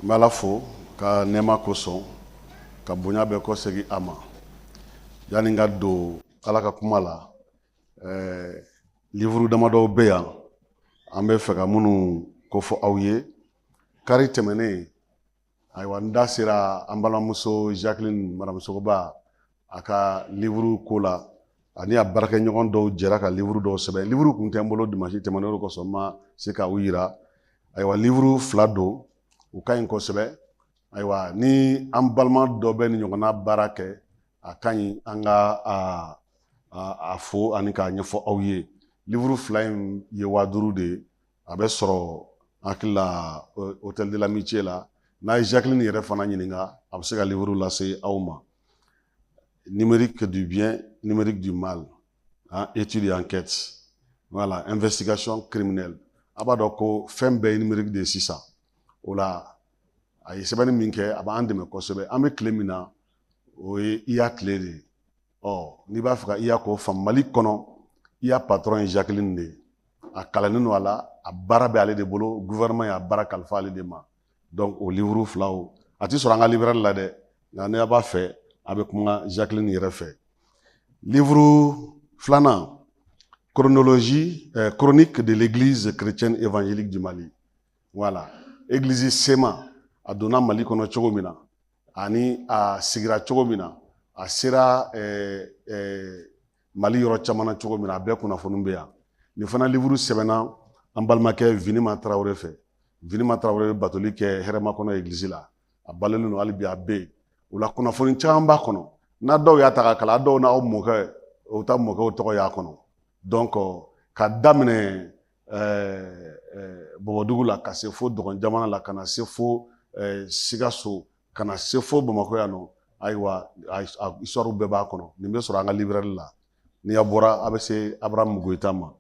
N bɛ Ala fo ka nɛɛma kosɔn ka bonya bɛɛ kɔsegin a ma yani n ka don Ala ka kuma la ɛɛ livre damadɔw bɛ yan an bɛ fɛ ka minnu kofɔ aw ye kari tɛmɛnen ayiwa n da sera an balimamuso Jacqueline madame Sogoba a ka livuru ko la ani a baarakɛɲɔgɔn dɔw jɛra ka livuru dɔw sɛbɛn livuru kun tɛ n bolo dimansi tɛmɛnen o kosɔn n ma se ka u yira ayiwa livuru fila don u ka ɲi kosɛbɛ ayiwa ni an balima dɔ bɛ nin ɲɔgɔnna baara kɛ a ka ɲi an ka a fo ani k'a ɲɛfɔ aw ye livuru fila in ye waa duuru de ye a bɛ sɔrɔ n hakili la hôtel de l'amitié la n'a ye Jacqueline yɛrɛ fana ɲininka a bɛ se ka livre lase aw ma numérique du bien numérique du mal hein, étude et enquête voilà investigation criminelle a b'a dɔn ko fɛn bɛɛ ye numérique de ye sisan o la a ye sɛbɛnni min kɛ a b'an dɛmɛ kosɛbɛ an bɛ tile min na o ye IA tile de ye ɔ n'i b'a fɛ ka IA ko faamu mali kɔnɔ IA patɔrɔn ye jacqueline de ye a kalannen don a la a baara bɛ ale de bolo gouvernement y'a baara kalifa ale de ma donc o livre fila a ti sɔrɔ an ka librairie la dɛ nka n'a b'a fɛ a bɛ kuma jacqueline yɛrɛ fɛ livre filanan chronologie eh, chronique de l'église chrétienne évangélique du mali voilà église CMA a donna mali kɔnɔ cogo min na ani a sigira cogo min na a sera eh, eh, mali yɔrɔ caman na cogo min na a bɛɛ kunnafoni bɛ yan nin fana livuru sɛbɛnna an balimakɛ vinima tarawele fɛ vinima tarawele bɛ batoli kɛ Hɛrɛmakɔnɔ egilizi la a balolen don hali bi a bɛ yen o la kunnafoni caman b'a kɔnɔ n'a dɔw y'a ta k'a kalan a dɔw n'aw mɔkɛ o ta mɔkɛw tɔgɔ y'a kɔnɔ donc ka daminɛ bɔbɔdugu la ka se fo dɔgɔn jamana la ka na se fo sikaso ka na se fo bamakɔ yan nɔ ayiwa histoire bɛɛ b'a kɔnɔ nin bɛ sɔrɔ an ka librairie la ni a bɔra a bɛ se Abraham Goita ma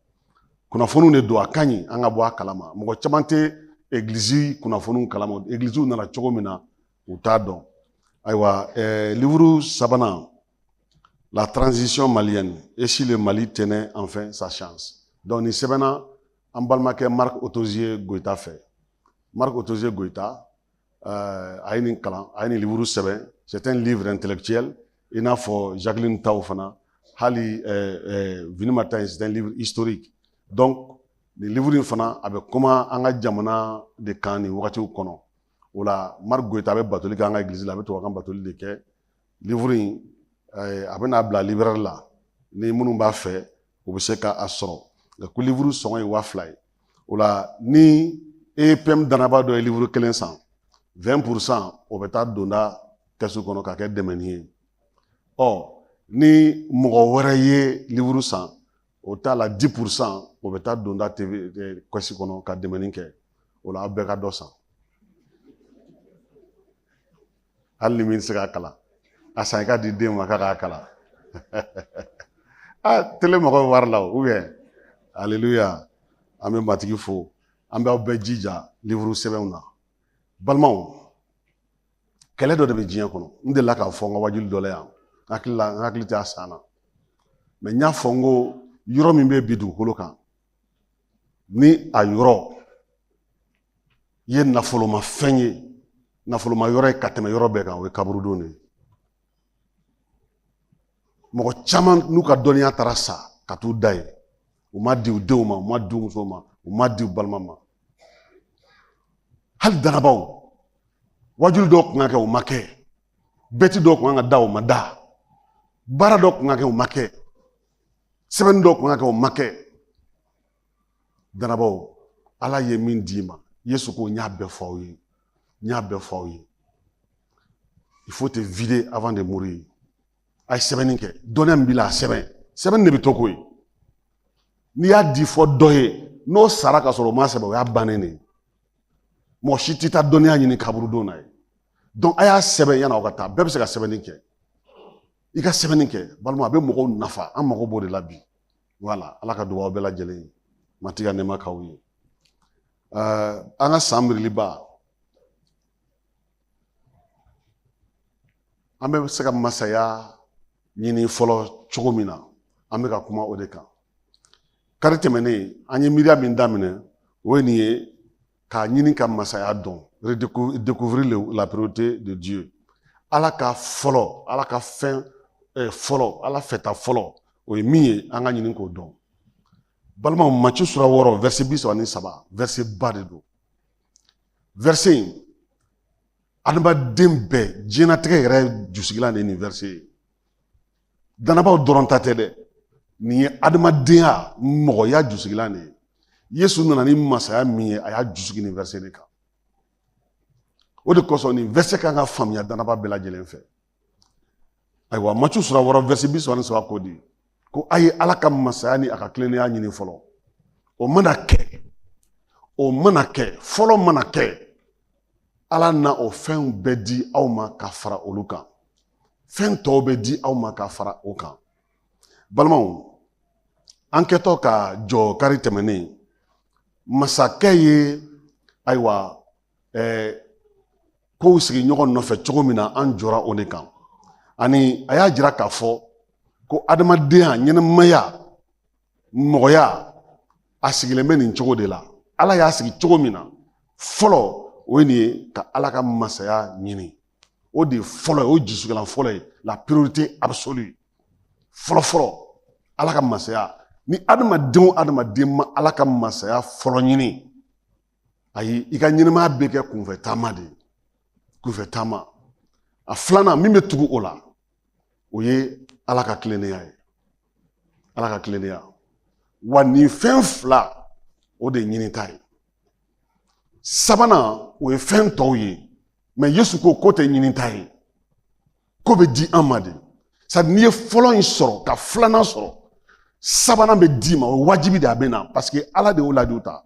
kunnafoniw de don a ka ɲi an ka bɔ a kalama mɔgɔ caman tɛ egiliz kunnafoniw kalama egiliziw nana cogo min na u t'a dɔn ayiwa livuru sabanan la transition malienne et si le Mali tenait enfin sa chance donc nin sɛbɛnna an balimakɛ Marc Otozie Goita fɛ Marc Otozie Goita euh, a ye nin kalan a ye nin livre sɛbɛn c'est un livre intellectuel i n'a fɔ Jacqueline taw fana hali euh, euh, Vinima ta in c'est un livre historique donc nin livre in fana a bɛ kuma an ka jamana de kan nin wagatiw kɔnɔ o la Marc Goita a bɛ batoli kɛ an ka église la a bɛ tubabukan batoli de kɛ livuru in eh, a bɛna bila librɛri la ni minnu b'a fɛ u bɛ se ka a sɔrɔ nka ko livuru sɔngɔ ye waa fila ye o la ni epm danaba dɔ ye livuru kelen san 20 pour cent o bɛ taa donda kɛsu kɔnɔ ka kɛ dɛmɛni ye ɔ ni mɔgɔ wɛrɛ ye livuru san o t'a la 10 pour cent o bɛ taa donda tv eh, kɛsi kɔnɔ ka dɛmɛni kɛ o la aw bɛɛ ka dɔ san hali ni min tɛ se k'a kalan a san i k'a di den ma k'a k'a kalan a tele mɔgɔ bɛ wari la o aleluya an bɛ matigi fo an b'aw bɛɛ jija livuru sɛbɛnw na balimaw kɛlɛ dɔ de bɛ diɲɛ kɔnɔ n delila k'a fɔ n ka wajuli dɔ la yan n hakili la n hakili tɛ a san na mais n y'a fɔ n ko yɔrɔ min bɛ bi dugukolo kan ni a yɔrɔ ye nafoloma fɛn ye nafoloma yɔrɔ ye ka tɛmɛ yɔrɔ bɛɛ kan o ye kaburudon de ye mɔgɔ caman n'u ka dɔnniya taara sa ka t'u da yen u m'a di u denw ma u m'a di u musow ma u m'a di u balima ma hali danabaw wajuli dɔw kun ka kɛ u ma kɛ bɛti dɔw kun ka da u ma da baara dɔw kun ka kɛ u ma kɛ sɛbɛnni dɔ kun ka kɛ o ma kɛ danabaw ala ye min d'i ma yesu ko n y'a bɛɛ fɔ aw ye n y'a bɛɛ fɔ aw ye il faut te vider avant de mourir a ye sɛbɛnni kɛ dɔnniya min b'i la a sɛbɛn sɛbɛnni de bɛ to ko ye n'i y'a di fɔ dɔ ye n'o sara ka sɔrɔ o ma sɛbɛn o y'a bannen de ye mɔgɔ si tɛ taa dɔnniya ɲini kaburudon na yen donc a y'a sɛbɛn yanni aw ka taa bɛɛ bɛ se ka sɛbɛnni kɛ i ka sɛbɛnni kɛ balima a bɛ mɔgɔw nafa an mago b'o de la bi voilà ala ka duga aw bɛɛ lajɛlen ye matigi ka nɛɛma k'aw ye an ka san miiriliba an bɛ se ka masaya ɲini fɔlɔ cogo min na an bɛ ka kuma o de kan kari tɛmɛnen an ye miiriya min daminɛ o ye nin ye k'a ɲini ka masaya dɔn redécouvrir la priorité de Dieu ala ka fɔlɔ ala ka fɛn eh, fɔlɔ ala fɛta fɔlɔ o ye min ye an ka ɲini k'o dɔn balimaw maci sura wɔɔrɔ verset bi saba ni saba verset ba de don verset in adamaden bɛɛ diɲɛnatigɛ yɛrɛ jusigilan de ye nin verset ye danabaw dɔrɔn ta tɛ dɛ nin ye adamadenya mɔgɔya jusigilan de ye yesu nana ni masaya min ye a y'a jusigi nin vɛrɛsɛ de kan o de kosɔn nin vɛrɛsɛ kan ka faamuya danaba bɛɛ lajɛlen fɛ ayiwa macu sura wɔɔrɔ vɛrɛsɛ bi saba ni saba ko di ko a ye ala ka masaya ni a ka tilennenya ɲini fɔlɔ o mana kɛ o mana kɛ fɔlɔ mana kɛ ala na o fɛnw bɛɛ di aw ma ka fara olu kan fɛn tɔw bɛ di aw ma ka fara o kan balimaw an kɛtɔ ka jɔ kari tɛmɛnen masakɛ ye ayiwa eh, kow sigi ɲɔgɔn nɔfɛ cogo min na an jɔra o de kan ani a y'a jira k'a fɔ ko adamadenya ɲɛnamaya mɔgɔya a sigilen bɛ nin cogo de la ala y'a sigi cogo min na fɔlɔ o ye nin ye ka ala ka masaya ɲini o de ye fɔlɔ ye o ye jusigilan fɔlɔ ye la priorité absolue fɔlɔfɔlɔ ala ka masaya ni adamadenw adamaden ma ala ka masaya fɔlɔ ɲini ayi i ka ɲɛnamaya bɛ kɛ kunfɛ taama de ye kunfɛ taama a filanan min bɛ tugu o la o ye ala ka tilennenya ye ala ka tilennenya wa nin fɛn fila o de ye ɲinita ye sabanan o ye fɛn tɔw ye mais yesu ko k'o tɛ ɲinita ye k'o bɛ di an ma de c'est-à-dire n'i ye fɔlɔ in sɔrɔ ka filanan sɔrɔ sabanan bɛ d'i ma o ye wajibi de a bɛ na parce que ala de y'o layidu ta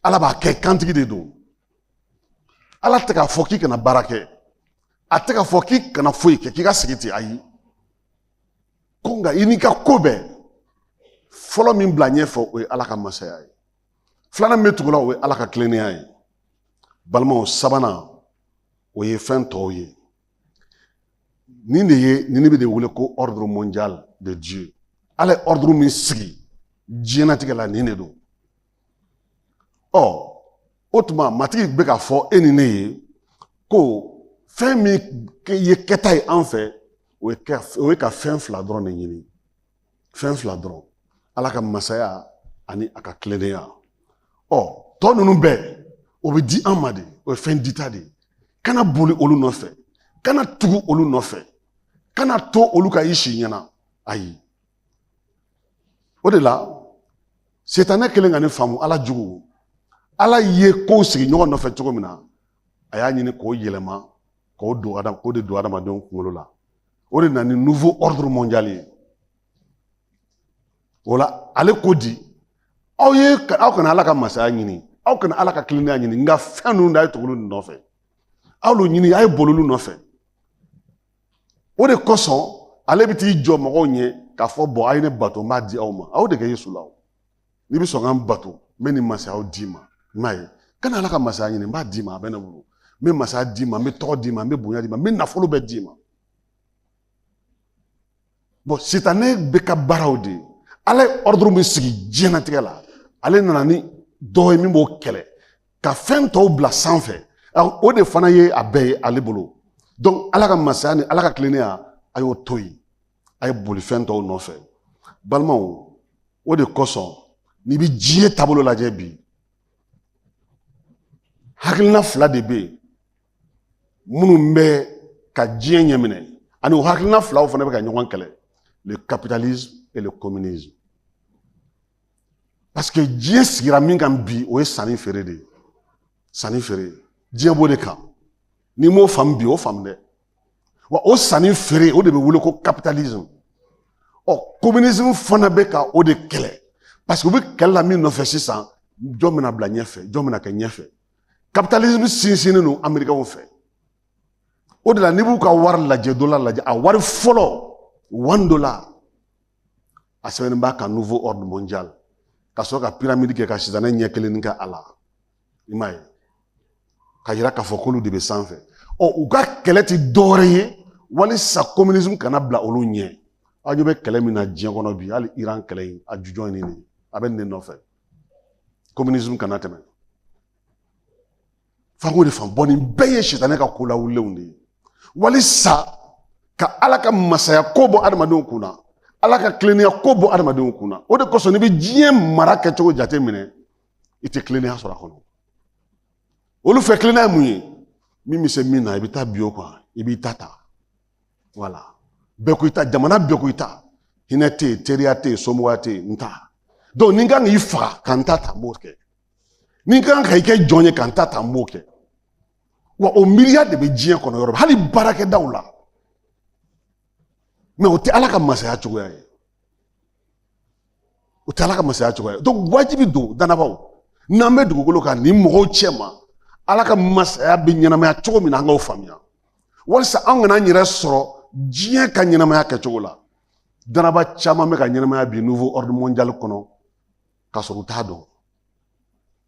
ala b'a kɛ kantigi de don ala tɛ k'a fɔ k'i kana baara kɛ a tɛ k'a fɔ k'i kana foyi kɛ k'i ka sigi ten ayi ko nka i n'i ka ko bɛɛ fɔlɔ min bila ɲɛfɛ o ye ala ka masaya ye filanan min bɛ tugu la o ye ala ka tilennenya ye balimaw sabanan o ye fɛn tɔw ye nin de ye nin bɛ de wele ko ordre mondial de dieu ala ye ordre min sigi diɲɛnatigɛ la nin de don ɔ o tuma matigi bɛ k'a fɔ e ni ne ye ko fɛn min ye kɛta ye an fɛ o ye ka fɛn fila dɔrɔn de ɲini fɛn fila dɔrɔn ala ka masaya ani a ka tilennenya ɔ tɔ ninnu bɛɛ o bɛ di an ma de o ye fɛn dita de ye kana boli olu nɔfɛ kana tugu olu nɔfɛ kana to olu ka i si ɲɛna ayi o de la sitanɛ kɛlen ka nin faamu ala jugu ala ye kow sigi ɲɔgɔn nɔfɛ cogo min na a y'a ɲini k'o yɛlɛma k'o don adam k'o de don adamadenw kunkolo la o de na ni nouveau ordre mondial ye o la ale ko di aw ye aw kana ala ka masaya ɲini aw kana ala ka tilennenya ɲini nka fɛn ninnu de a ye tugu olu de nɔfɛ aw olu ɲini a ye boli olu nɔfɛ o de kosɔn ale bɛ t'i jɔ mɔgɔw ɲɛ k'a fɔ bon a ye ne bato n b'a di aw ma a y'o de kɛ yesu la o n'i bɛ sɔn ka n bato n bɛ nin masayaw d'i ma i m'a ye kana ala ka masaya ɲini n b'a d'i ma a bɛ ne bolo n bɛ masaya d'i ma n bɛ tɔgɔ d'i ma n bɛ bonya d'i ma n bɛ nafolo bɛɛ d'i ma bon sitanɛ bɛ ka baaraw de ye ala ye ordre min sigi diɲɛnatigɛ la ale nana ni dɔ ye min b'o kɛlɛ ka fɛn tɔw bila sanfɛ o de fana ye a bɛɛ ye ale bolo donc ala ka masaya ni ala ka tilennenya a y'o to yen a ye boli fɛn tɔw nɔfɛ balimaw o de kosɔn n'i bɛ diɲɛ taabolo lajɛ bi hakilina fila de bɛ yen minnu bɛ ka diɲɛ ɲɛminɛ ani o hakilina filaw fana bɛ ka ɲɔgɔn kɛlɛ le capitalisme et le communisme parce que diɲɛ sigira min kan bi o ye sanni feere de ye sanni feere diɲɛ b'o de kan n'i m'o faamu bi o faamu dɛ wa o sanni feere o de bɛ wele ko capitalisme ɔ communisme fana bɛ ka o de kɛlɛ parce que u bɛ kɛlɛ la min nɔfɛ sisan jɔn bɛna bila ɲɛfɛ jɔn bɛna kɛ ɲɛfɛ capitalisme sinsinnen don amerikɛnw fɛ o de la n'i b'u ka wari lajɛ dollar lajɛ a wari fɔlɔ one dollar a sɛbɛnnen b'a kan nouveau ordre mondial ka sɔrɔ ka pyramide kɛ ka sitanɛ ɲɛ kelen kɛ a la i m'a ye ka yira k'a fɔ k'olu de bɛ sanfɛ ɔ u ka kɛlɛ tɛ dɔwɛrɛ ye walisa communisme kana bila olu ɲɛ aw ɲɛ bɛ kɛlɛ min na diɲɛ kɔnɔ bi hali iran kɛlɛ in a jujɔn ye nin a bɛ nin de nɔfɛ communisme kana tɛmɛ fanko de fan bon nin bɛɛ ye sitanɛ ka ko lawulenw de ye walisa ka ala ka masaya ko bɔ adamadenw kun na ala ka tilennenya ko bɔ adamadenw kun na o de kosɔn n'i bɛ diɲɛ mara kɛcogo jate minɛ i tɛ kilennenya sɔrɔ a kɔnɔ olu fɛ kilennenya mun ye min bɛ se min na i bɛ taa bin o kan i b'i ta ta voilà bɛɛ ko i ta jamana bɛɛ ko i ta hinɛ tɛ yen teriya tɛ yen somɔgɔya tɛ yen n ta donc ni n kan k'i faga ka n ta ta n b'o kɛ ni n kan ka i kɛ jɔn ye ka n ta ta n b'o kɛ wa o miiriya de bɛ diɲɛ kɔnɔ yɔrɔ hali baarakɛdaw la mais o tɛ ala ka masaya cogoya ye o tɛ ala ka masaya cogoya ye donc wajibi don danabaw n'an bɛ dugukolo kan nin mɔgɔw cɛma ala ka masaya bɛ ɲɛnamaya cogo min na an k'o faamuya walisa an kana an yɛrɛ sɔrɔ diɲɛ ka ɲɛnamaya kɛcogo la danaba caman bɛ ka ɲɛnamaya bi nouveau ordre mondial kɔnɔ ka sɔrɔ u t'a dɔn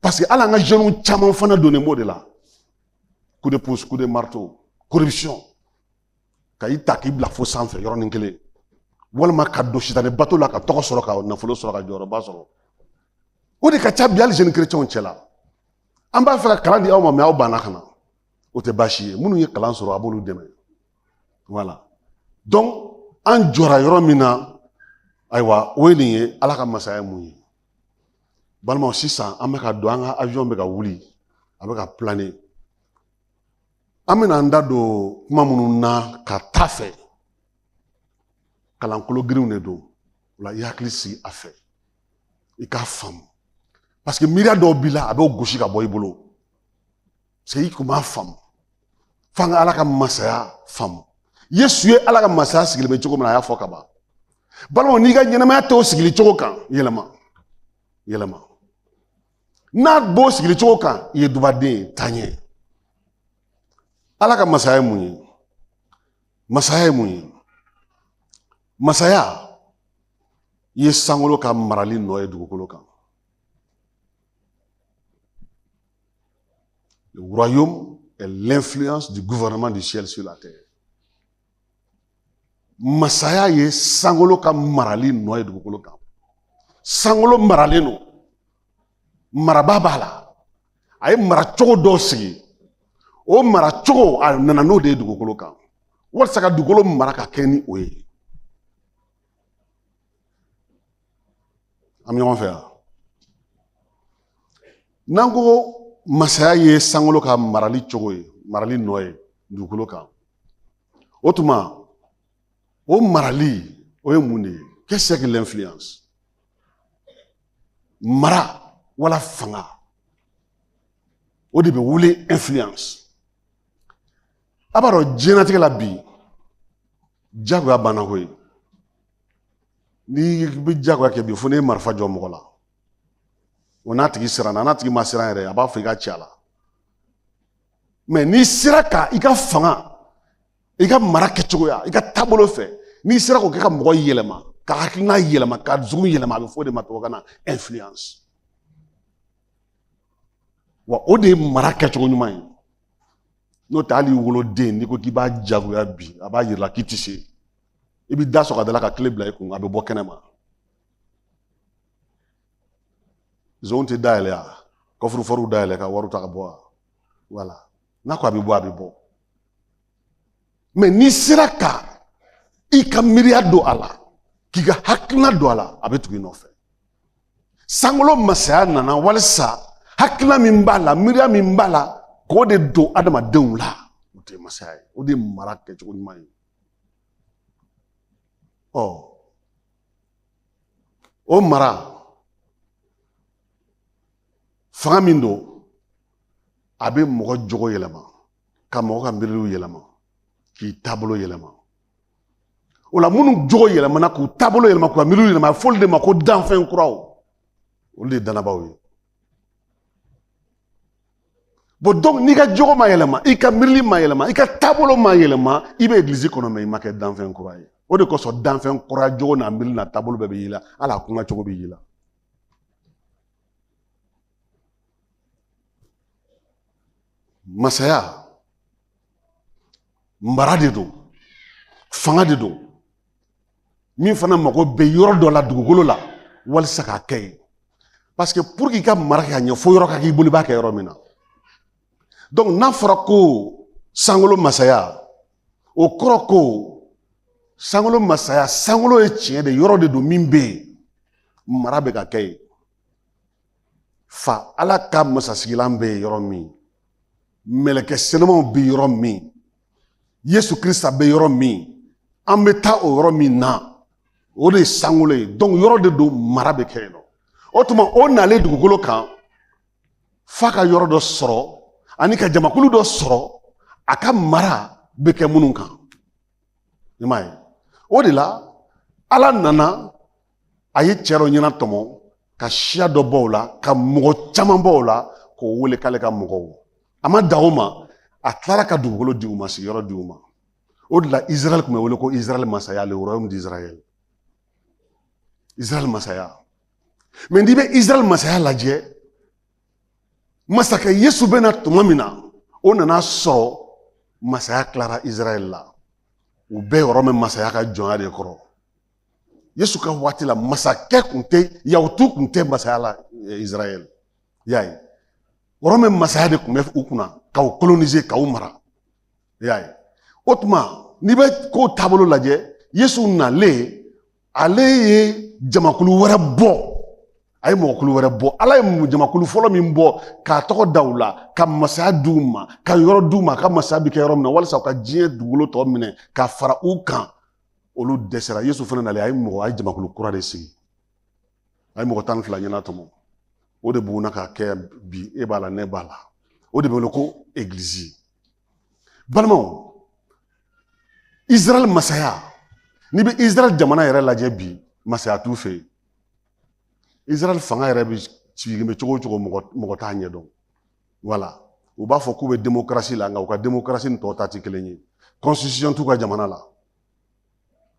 Parce que hali an ka jeunes caman fana donnen b'o de la coup de pouce coup de marteau corruption ka i ta k'i bila fo sanfɛ yɔrɔnin kelen walima ka don sitanɛ bato la ka tɔgɔ sɔrɔ ka nafolo sɔrɔ ka jɔyɔrɔba sɔrɔ o de ka ca bi hali jeunes chrétiens cɛ la an b'a fɛ ka kalan di aw ma mais aw banna ka na o tɛ baasi ye minnu ye kalan sɔrɔ a b'olu dɛmɛ voilà donc an jɔra yɔrɔ min na ayiwa o ye nin ye ala ka masaya mun ye balimaw sisan an bɛ ka don an ka avion bɛ ka wuli a bɛ ka planer an bɛna an da don kuma minnu na ka taa fɛ kalankolo girinw de don o la i hakili sigi a fɛ i k'a faamu paseke miiriya dɔw b'i la a b'o gosi ka bɔ i bolo i kun b'a faamu f'an ka ala ka masaya faamu yesu ye ala ka masaya sigilen bɛ cogo min na a y'a fɔ ka ban balimaw n'i ka ɲɛnamaya t'o sigili cogo kan yɛlɛma yɛlɛma n'a b'o sigili cogo kan i ye dubaden ye taa ɲɛ ala ka masaya ye mun ye masaya ye mun ye masaya i ye sankolo ka marali nɔ ye dugukolo kan Le royaume est l'influence du gouvernement du ciel sur la terre. Masaya ye sankolo ka marali nɔ ye dugukolo kan sankolo maralen don maraba b'a la a ye mara cogo dɔw sigi o mara cogo a nana n'o de ye dugukolo kan walasa ka dugukolo mara ka kɛ ni o ye An bɛ ɲɔgɔn fɛ yan n'an ko masaya ye sankolo ka marali cogo ye marali nɔ ye dugukolo kan o tuma o marali o ye mun de ye qu'est-ce que l'influence mara wala fanga o de bɛ wele influence a b'a dɔn diɲɛlatigɛ la bi jagoya banna koyi n'i bɛ jagoya kɛ bi fo n'i ye marifa jɔ mɔgɔ la o n'a tigi siranna n'a tigi ma siran yɛrɛ a b'a fɔ i k'a ci a la mɛ n'i sera ka i ka fanga i ka mara kɛcogoya i ka taabolo fɛ n'i sera k'o kɛ ka mɔgɔ yɛlɛma ka hakilina yɛlɛma ka dusu yɛlɛma a bɛ fɔ o de ma tubabukan na influence wa o de ye mara kɛcogo ɲuman ye n'o tɛ hali woloden n'i ko k'i b'a jagoya bi a b'a yira k'i ti se i bɛ da sɔgɔ a da la ka kile bila i kun a bɛ bɔ kɛnɛ ma zonw tɛ dayɛlɛ a kɔfurufɔriw dayɛlɛ ka wariw ta ka bɔ a voilà n'a ko a bɛ bɔ a bɛ bɔ mɛ n'i sera ka i ka miiriya don a la k'i ka hakilina don a la a bɛ tugu i nɔfɛ sankolo masaya nana walisa hakilina min b'a la miiriya min b'a la k'o de don adamadenw la o tɛ masaya ye o de ye mara kɛcogo ɲuman ye ɔ o mara fanga min don a bɛ mɔgɔ jogo yɛlɛma ka mɔgɔ ka miiriliw yɛlɛma k'i taabolo yɛlɛma o la minnu jogo yɛlɛmana k'u taabolo yɛlɛma k'u ka miiriw yɛlɛma a bɛ f'olu de ma ko danfɛn kuraw olu de ye dannabaaw ye bon donc n'i ka jogo ma yɛlɛma i ka miirili ma yɛlɛma i ka taabolo ma yɛlɛma i bɛ egilizi kɔnɔ mais i ma kɛ danfɛn kura ye o de kosɔn danfɛn kura jogo n'a miiri n'a taabolo bɛɛ bɛ y'i la hali a kuma cogo bɛ y'i la masaya mara de don fanga de don min fana mago bɛ yɔrɔ dɔ la dugukolo la walisa k'a kɛ yen parce que pour qu'i ka mara kɛ ka ɲɛ fo yɔrɔ ka k'i bolo i b'a kɛ yɔrɔ min na donc n'a fɔra ko sankolo masaya o kɔrɔ ko sankolo masaya sankolo ye tiɲɛ de yɔrɔ de don min bɛ yen mara bɛ ka kɛ yen fa ala ka masasigilan bɛ yen yɔrɔ min mɛlɛkɛ senumanw bɛ yɔrɔ min yesu krista bɛ yɔrɔ min an bɛ taa o yɔrɔ min na o de ye sankolo ye donc yɔrɔ de don mara bɛ kɛ yen nɔ o tuma o nalen dugukolo kan f'a ka yɔrɔ dɔ sɔrɔ ani ka jamakulu dɔ sɔrɔ a ka mara bɛ kɛ minnu kan i m'a ye o de la ala nana a ye cɛ dɔ ɲɛnatɔmɔ ka siya dɔ bɔ o la ka mɔgɔ caman bɔ o la k'o wele k'ale ka mɔgɔw a ma dan o ma a tilara ka dugukolo di u ma sigiyɔrɔ di u ma o de la israɛl tun bɛ wele ko israɛl masaya le royaume d'israël israɛl masaya mais n'i bɛ israɛl masaya lajɛ masakɛ yesu bɛ na tuma min na o nana a sɔrɔ masaya tilara israɛl la u bɛ wɔrɔmɛ masaya ka jɔnya de kɔrɔ yesu ka waati la masakɛ kun tɛ yahutu kun tɛ masaya la eh, israɛl y'a ye wɔrɔmɛ masaya de kun bɛ u kunna ka u kolonize ka u mara y'a ye o tuma n'i bɛ kow taabolo lajɛ yesu nalen ale ye jamakulu wɛrɛ bɔ a ye mɔgɔkulu wɛrɛ bɔ ala ye jamakulu fɔlɔ min bɔ k'a tɔgɔ da u la ka masaya di u ma ka yɔrɔ di u ma ka masaya bi kɛ yɔrɔ min na walisa u ka diɲɛ dugukolo tɔ minɛ ka fara u kan olu dɛsɛra yesu fana nalen a ye mɔgɔ a ye jamakulu kura de sigi a ye mɔgɔ tan ni fila ɲɛnatɔmɔ o de bugunna ka kɛ bi e b'a la ne b'a la o de bɛ wele ko egilizi balimaw israɛl masaya n'i bɛ israɛl jamana yɛrɛ lajɛ bi masaya t'u fɛ yen israɛl fanga yɛrɛ bɛ sigilen bɛ cogo o cogo mɔgɔ t'a ɲɛdɔn voilà u b'a fɔ k'u bɛ demokarasi la nka u ka demokarasi ni tɔw ta tɛ kelen ye constitution t'u ka jamana la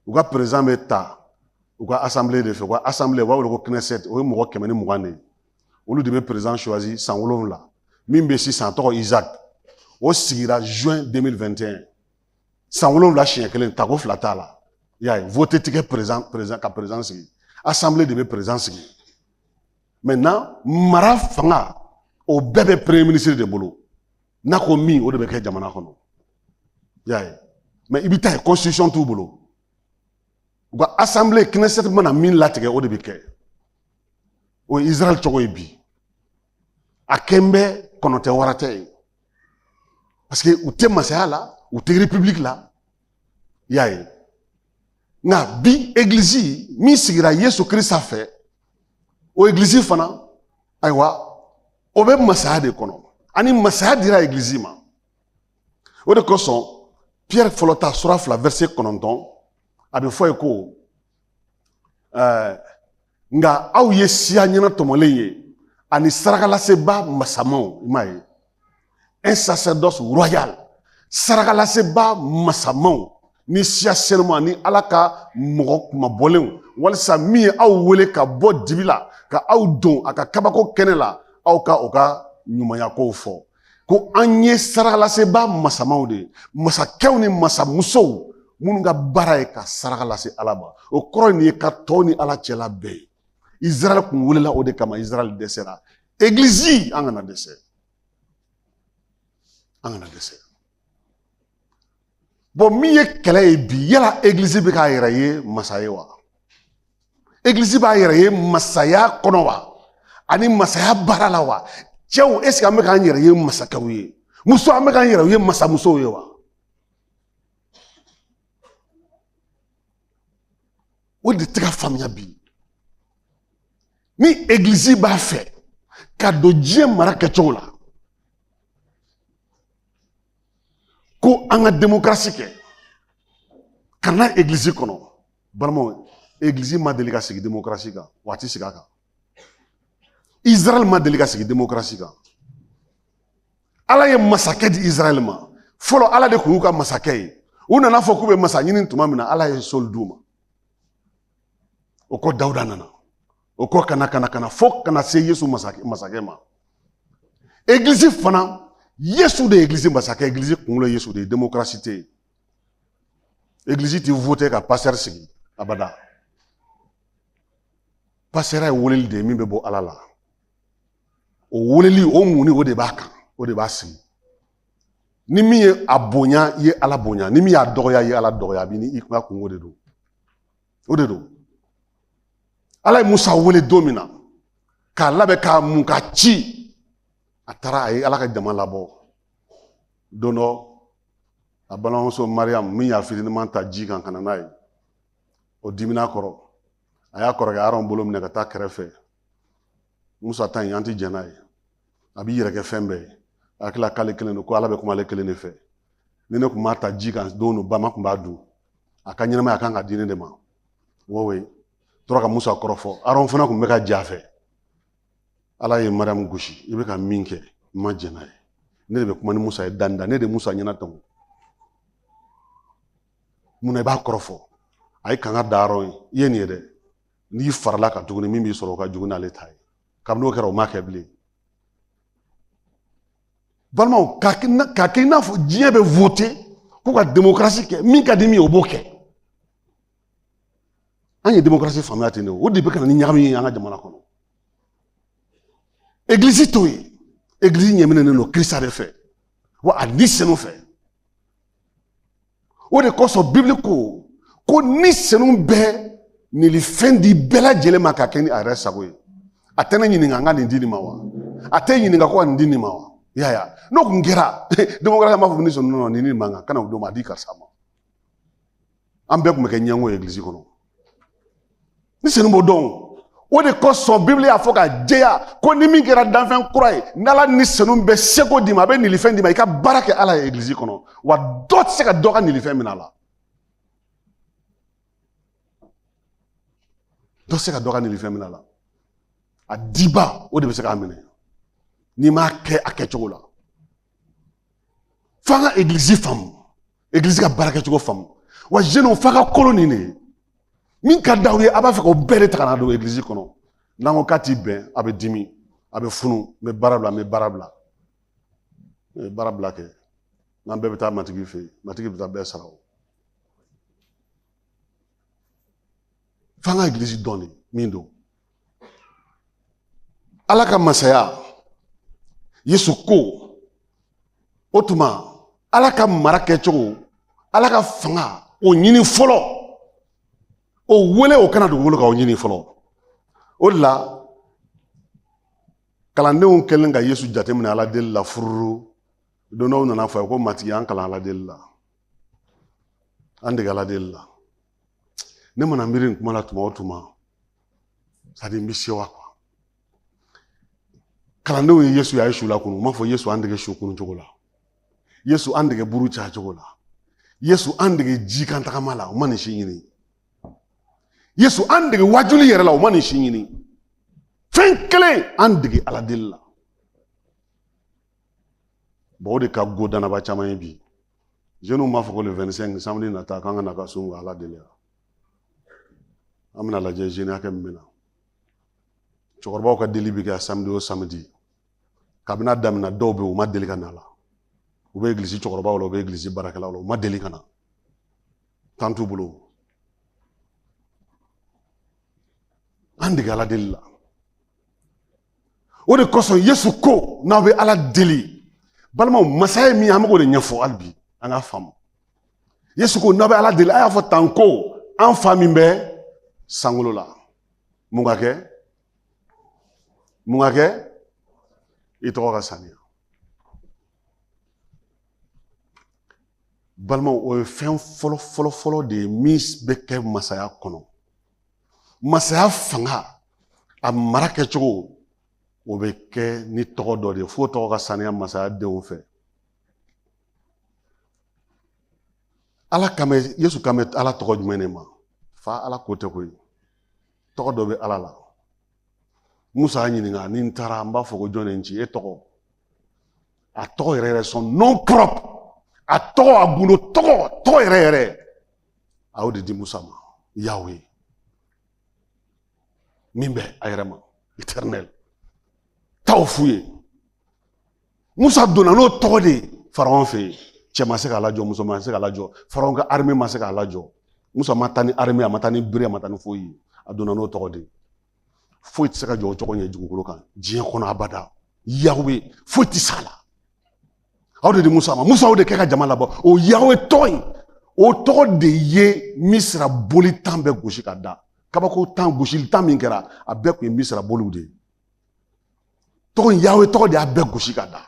u ka perezan bɛ ta u ka asanbile de fɛ u ka asanbile u b'a wele ko knesset o ye mɔgɔ kɛmɛ ni mugan de ye olu de bɛ perezan choisi san wolonwula min bɛ sisan tɔgɔ isaac o sigira juin 2021 san wolonwula siɲɛ kelen tako fila t'a la y'a ye vote ti kɛ perezan perezan ka perezan sigi asanbile de bɛ perezan sigi maintenant mara fanga o bɛɛ bɛ premier ministre de bolo n'a ko min o de bɛ kɛ jamana kɔnɔ i y'a ye mais i bɛ t'a ye constitution t'u bolo u ka assemblée knesset mana min latigɛ o de bɛ kɛ o ye israel cogo ye bi a kɛn bɛ kɔnɔ tɛ wara tɛ ye parce que u tɛ masaya la u tɛ république la i y'a ye nka bi egilizi min sigira yesu kirisita fɛ o egilizi fana ayiwa o bɛ masaya de kɔnɔ ani masaya dira egilizi ma o de kosɔn piyɛri fɔlɔ ta sura fila vɛrɛse kɔnɔntɔn a bɛ fɔ ye ko ɛɛ nka aw ye siya ɲɛnatɔmɔlen ye ani sarakalasebaa masamaw i m'a ye un sacerdoce royal sarakalasebaa masamaw ni siya senuma ni ala ka mɔgɔ kunmabɔlenw walisa min ye aw wele ka bɔ dibi la ka aw don a ka kabako kɛnɛ la aw ka o ka ɲumanya kow fɔ ko an ye sarakalasebaa masamaw de ye masakɛw ni masamusow minnu ka baara ye ka saraka lase ala ma o kɔrɔ nin ye ka tɔw ni ala cɛ labɛn ye israɛl kun welela o de kama israɛl dɛsɛra egilizi an kana dɛsɛ an kana dɛsɛ min ye kɛlɛ ye bi yala egilizi bɛ k'a yɛrɛ ye masa ye wa egilizi b'a yɛrɛ ye masaya kɔnɔ wa ani masaya baara la wa cɛw eseke an bɛ k'an yɛrɛ ye masakɛw ye muso an bɛ k'an yɛrɛ ye masamusow ye wa o de tɛ ka faamuya bi ni egilizi b'a fɛ ka don diɲɛ mara kɛcogo la ko an ka demokarasi kɛ ka na egilizi kɔnɔ balimaw egilizi ma deli ka sigi demokarasi kan wa a ti sigi a kan israɛl ma deli ka sigi demokarasi kan ala ye masakɛ di israɛl ma fɔlɔ ala de kun y'u ka masakɛ ye u nan'a fɔ k'u bɛ masa ɲini tuma min na ala ye sɔli d'u ma o kɔ dawuda nana o kɔ ka na ka na ka na fo ka na se yesu masakɛ ma egilizi fana yesu de ye egilizi masakɛ egilizi kunkolo yesu de ye demokarasi tɛ yen egilizi ti vote ka pasitɛri sigi abada pasitɛri ye weleli de ye min bɛ bɔ ala la o weleli o muni o de b'a kan o de b'a sigi ni min ye a bonya i ye ala bonya ni min y'a dɔgɔya i ye ala dɔgɔya a b'i ni i ka kunko de don o de don ala ye musa wele don min na k'a labɛn k'a mun k'a ci a taara a ye ala ka jama labɔ don dɔ a balimamuso mariyamu min y'a fitiniman ta ji kan ka na n'a ye o dimina kɔrɔ a y'a kɔrɔkɛ aron bolo minɛ ka taa kɛrɛfɛ musa ta in an tɛ jɛn n'a ye a b'i yɛrɛ kɛ fɛn bɛɛ ye a hakili la k'ale kelen don ko ala bɛ kuma ale kelen de fɛ ni ne tun m'a ta ji kan don o bama tun b'a dun a ka ɲɛnamaya a kan ka di ne de ma wɔwe tora ka musa kɔrɔfɔ aron fana tun bɛ ka jɛn a fɛ ala ye mariyamu gosi i bɛ ka min kɛ n ma jɛn n'a ye ne de bɛ kuma ni musa ye da ni da ne de musa ɲɛnatɔmɔ mun na i b'a kɔrɔfɔ a ye kanga da aron ye i ye nin ye dɛ n'i farala a kan tuguni min b'i sɔrɔ o ka jugu n'ale ta ye kabini o kɛra o ma kɛ bilen balimaw k'a kɛ i n'a fɔ diɲɛ bɛ vote k'u ka demokarasi kɛ min ka di min ye o b'o kɛ an ye demokarasi faamuya ten de o de bɛ ka na ni ɲagami ye an ka jamana kɔnɔ egilisi t'o ye egilisi ɲɛminɛnen don kirisita de fɛ wa a ni senu fɛ o de kosɔn bibili ko ko ni senu bɛ nilifɛn di bɛɛ lajɛlen ma ka kɛ ni a yɛrɛ sago ye a tɛ ne ɲininka n ka nin di nin ma wa a tɛ ɲininka ko ka nin di nin ma wa yaya n'o tun kɛra demokarasi an b'a fɔ ni senu nɔn o ni nin man kan kan'a d'o ma a di karisa ma an bɛɛ tun bɛ kɛ ɲɛngo ye egilizi kɔnɔ ni senu b'o dɔn o de kosɔn bibili y'a fɔ ka jɛya ko ni min kɛra danfɛn kura ye n'ala ni senu bɛ seko d'i ma a bɛ nilifɛn d'i ma i ka baara kɛ ala ye egilizi kɔnɔ wa dɔ tɛ se ka dɔ ka nilifɛn minɛ a la dɔ tɛ se ka dɔ ka nilifɛn minɛ a la a dibaa o de bɛ se k'a minɛ n'i m'a kɛ a kɛcogo la f'an ka egilizi faamu egilizi ka baara kɛcogo faamu wa zenu fa ka kolo nin de min ka d'aw ye a b'a fɛ k'o bɛɛ de ta ka na don egilizi kɔnɔ n'an ko k'a ti bɛn a bɛ dimi a bɛ funu n bɛ baara bila n bɛ baara bila n bɛ baara bila kɛ n'an bɛɛ bɛ taa matigi fɛ yen matigi bɛ taa bɛɛ sara o f'an ka egilizi dɔn de min don ala ka masaya yesu ko o tuma ala ka mara kɛcogo ala ka fanga o ɲini fɔlɔ o wele o ka na dugukolo kan o ɲini fɔlɔ o de la kalandenw kɛlen ka yesu jateminɛ ala deli la fururu don dɔ u nana fɔ a ye ko matigi an kalan ala deli la an dege ala deli la ne mana miiri nin kuma la tuma o tuma c'est-à-dire n bɛ sewa quoi kalandenw ye yesu ye a ye su lakunu u m'a fɔ yesu an dege su kunu cogo la yesu an dege buru caya cogo la yesu an dege ji kan tagama la u ma nin si ɲini yesu an dege wajuli yɛrɛ la u ma nin si ɲini fɛn kelen an dege ala deli la bon o de ka go dannabaa caman ye bi jeunes m'a fɔ ko le 25 samedi nata k'an ka na ka sun ala deli la an bɛn'a lajɛ jeune hakɛ min bɛ na cɛkɔrɔbaw ka deli bɛ kɛ samedi o samedi kabini a daminɛ dɔw bɛ yen u ma deli ka n'a la u bɛ egilisi cɛkɔrɔbaw la u bɛ egilisi baarakɛlaw la u ma deli ka na temps t'u bolo an dege ala deli la o de kosɔn yesu ko n'aw bɛ ala deli balimaw masaya ye min ye an bɛ k'o de ɲɛfɔ hali bi an k'a faamu yesu ko n'aw bɛ ala deli a y'a fɔ tan ko an fa min bɛ sankolo la mun ka kɛ mun ka kɛ i tɔgɔ ka saniya balimaw o ye fɛn fɔlɔ fɔlɔ fɔlɔ de ye min bɛ kɛ masaya kɔnɔ masaya fanga a mara kɛcogo o bɛ kɛ ni tɔgɔ dɔ de ye f'o tɔgɔ ka saniya masaya denw fɛ ala kan bɛ yesu kan bɛ ala tɔgɔ jumɛn de ma fa ala ko tɛ koyi tɔgɔ dɔ bɛ ala la musa y'a ɲininka ni n taara n b'a fɔ ko jɔn de n ci e tɔgɔ a tɔgɔ yɛrɛ yɛrɛ son nom propre a tɔgɔ a gundo tɔgɔ tɔgɔ yɛrɛ yɛrɛ a y'o de di musa ma yawe min bɛ a yɛrɛ ma éternel taa o f'u ye musa donna n'o tɔgɔ de ye faraon fɛ yen cɛ ma se k'a lajɔ muso ma se k'a lajɔ faraon ka armée ma se k'a lajɔ musa ma taa ni armée a ma taa ni bere a ma taa ni foyi ye a donna n'o tɔgɔ de ye foyi tɛ se ka jɔ o tɔgɔ ɲɛ dugukolo kan diɲɛ kɔnɔ abada yawe foyi tɛ s'a la aw de di musa ma musa o de kɛ ka jama labɔ o yawe tɔgɔ in o tɔgɔ de ye misira boli tan bɛɛ gosi ka da kabako tan gosili tan min kɛra a bɛɛ kun ye misira boliw de ye tɔgɔ in yawe tɔgɔ de y'a bɛɛ gosi ka da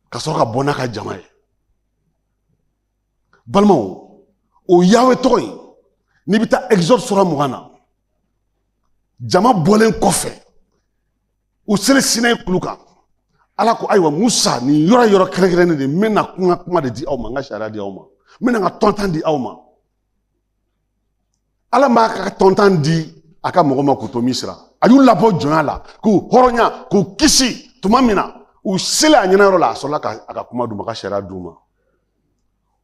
ka sɔrɔ ka bɔ n'a ka jama ye balimaw o yawe tɔgɔ in n'i bɛ taa exode sura mugan na jama bɔlen kɔfɛ u selen sinayi kulu kan ala ko ayiwa musa nin yɔrɔ yɔrɔ kɛrɛnkɛrɛnnen de n bɛna kuma kuma de di aw ma n ka sariya di aw ma n bɛna n ka tɔntan di aw ma ala m'a ka tɔntan di a ka mɔgɔ ma k'u to misira a y'u labɔ jɔnya la k'u hɔrɔnya k'u kisi tuma min na u selen a ɲɛna yɔrɔ la a sɔrɔla ka a ka kuma d'u ma a ka sariya d'u ma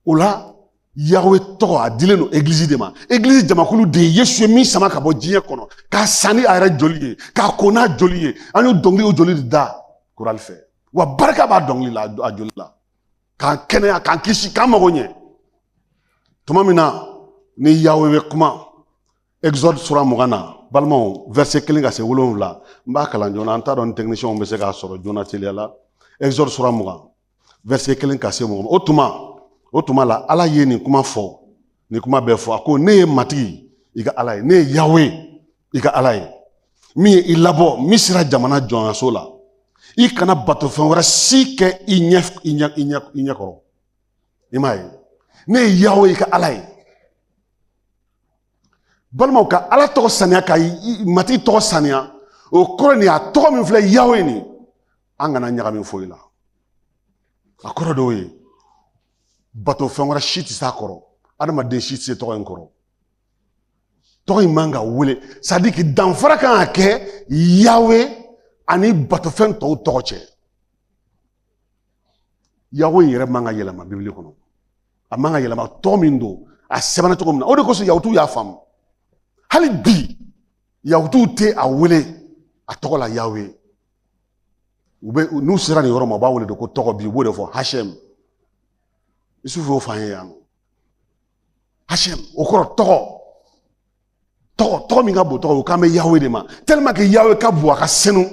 o la yawe tɔgɔ a dilen don egilizi de ma egilizi jamakulu de ye yesu ye min sama ka bɔ diɲɛ kɔnɔ k'a san ni a yɛrɛ joli ye k'a ko n'a joli ye an y'o dɔnkili o joli de da korali fɛ wa barika b'a dɔnkili la a joli la k'an kɛnɛya k'an kisi k'an mago ɲɛ tuma min na ni yawe bɛ kuma exode sura mugan na balimaw verset kelen ka se wolonwula n b'a kalan joona an t'a dɔn ni technicienw bɛ se k'a sɔrɔ joona teliya la exode sura mugan verset kelen ka se wolonwula o tuma o tuma la ala ye nin kuma fɔ nin kuma bɛɛ fɔ a ko ne ye matigi i ka ala ye ne ye yawe i ka ala ye min ye i labɔ misira jamana jɔnyaso la i kana batofɛn wɛrɛ si kɛ i ɲɛ kɔrɔ i m'a ye ne ye yawe i ka ala ye balimaw ka ala tɔgɔ saniya ka matigi tɔgɔ saniya o kɔrɔ nin a tɔgɔ min filɛ yawe nin an kana ɲagami foyi la a kɔrɔ d'o ye batofɛn wɛrɛ si tɛ s'a kɔrɔ adamaden si tɛ se tɔgɔ in kɔrɔ tɔgɔ in man ka wele c'est-à-dire que danfara kan ka kɛ yawe ani batofɛn tɔw tɔgɔ cɛ yawe yɛrɛ man ka yɛlɛma bibili kɔnɔ a man ka yɛlɛma tɔgɔ min don a sɛbɛnna cogo min na o de kosɔn yahutuw y'a faamu hali bi yahutuw tɛ a wele a tɔgɔ la yawe u bɛ n'u sera nin yɔrɔ ma u b'a wele de ko tɔgɔ bi u b'o de fɔ hashem isufu y'o f'an ye yan nɔ hashem o kɔrɔ tɔgɔ tɔgɔ tɔgɔ min ka bon tɔgɔ o kan bɛ yawe de ma tellement que yawe ka bon a ka senu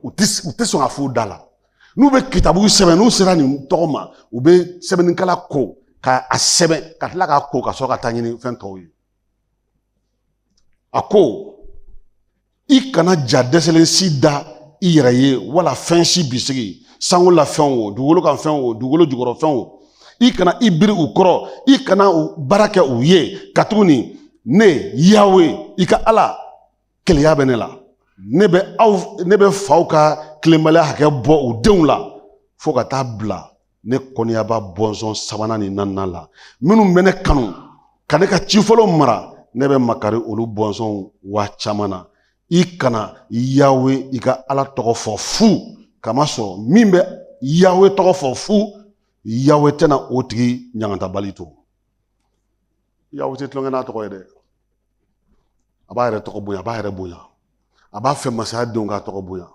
u tɛ u tɛ sɔn k'a f'u da la n'u bɛ kitabu sɛbɛn n'u sera nin tɔgɔ ma u bɛ sɛbɛnnikala ko ka a sɛbɛn ka tila k'a ko ka sɔrɔ ka taa ɲɛ ni fɛn tɔw ye a ko i kana ja dɛsɛlen si da i yɛrɛ ye wala fɛn si bisigi sankolo la fɛn o dugukolo kan fɛn o dugukolo jukɔrɔ fɛn o i kana i biri u kɔrɔ i kana baara kɛ u ye katuguni ne yawe i ka ala keleya bɛ ne la ne bɛ aw ne bɛ faw ka tilenbaliya hakɛ bɔ u denw la fo ka taa bila ne kɔniyaba bɔnsɔn sabanan ni naaninan la minnu bɛ ne kanu ka ne ka ci fɔlenw mara ne bɛ makari olu bɔnsɔnw waa caman na i kana yawe i ka ala tɔgɔ fɔ fu k'a masɔrɔ min bɛ yawe tɔgɔ fɔ fu yawe tɛna o tigi ɲangatabali to yawe tɛ tulon kɛ n'a tɔgɔ ye dɛ a b'a yɛrɛ tɔgɔ bonya a b'a yɛrɛ bonya a b'a fɛ masaya denw k'a tɔgɔ bonya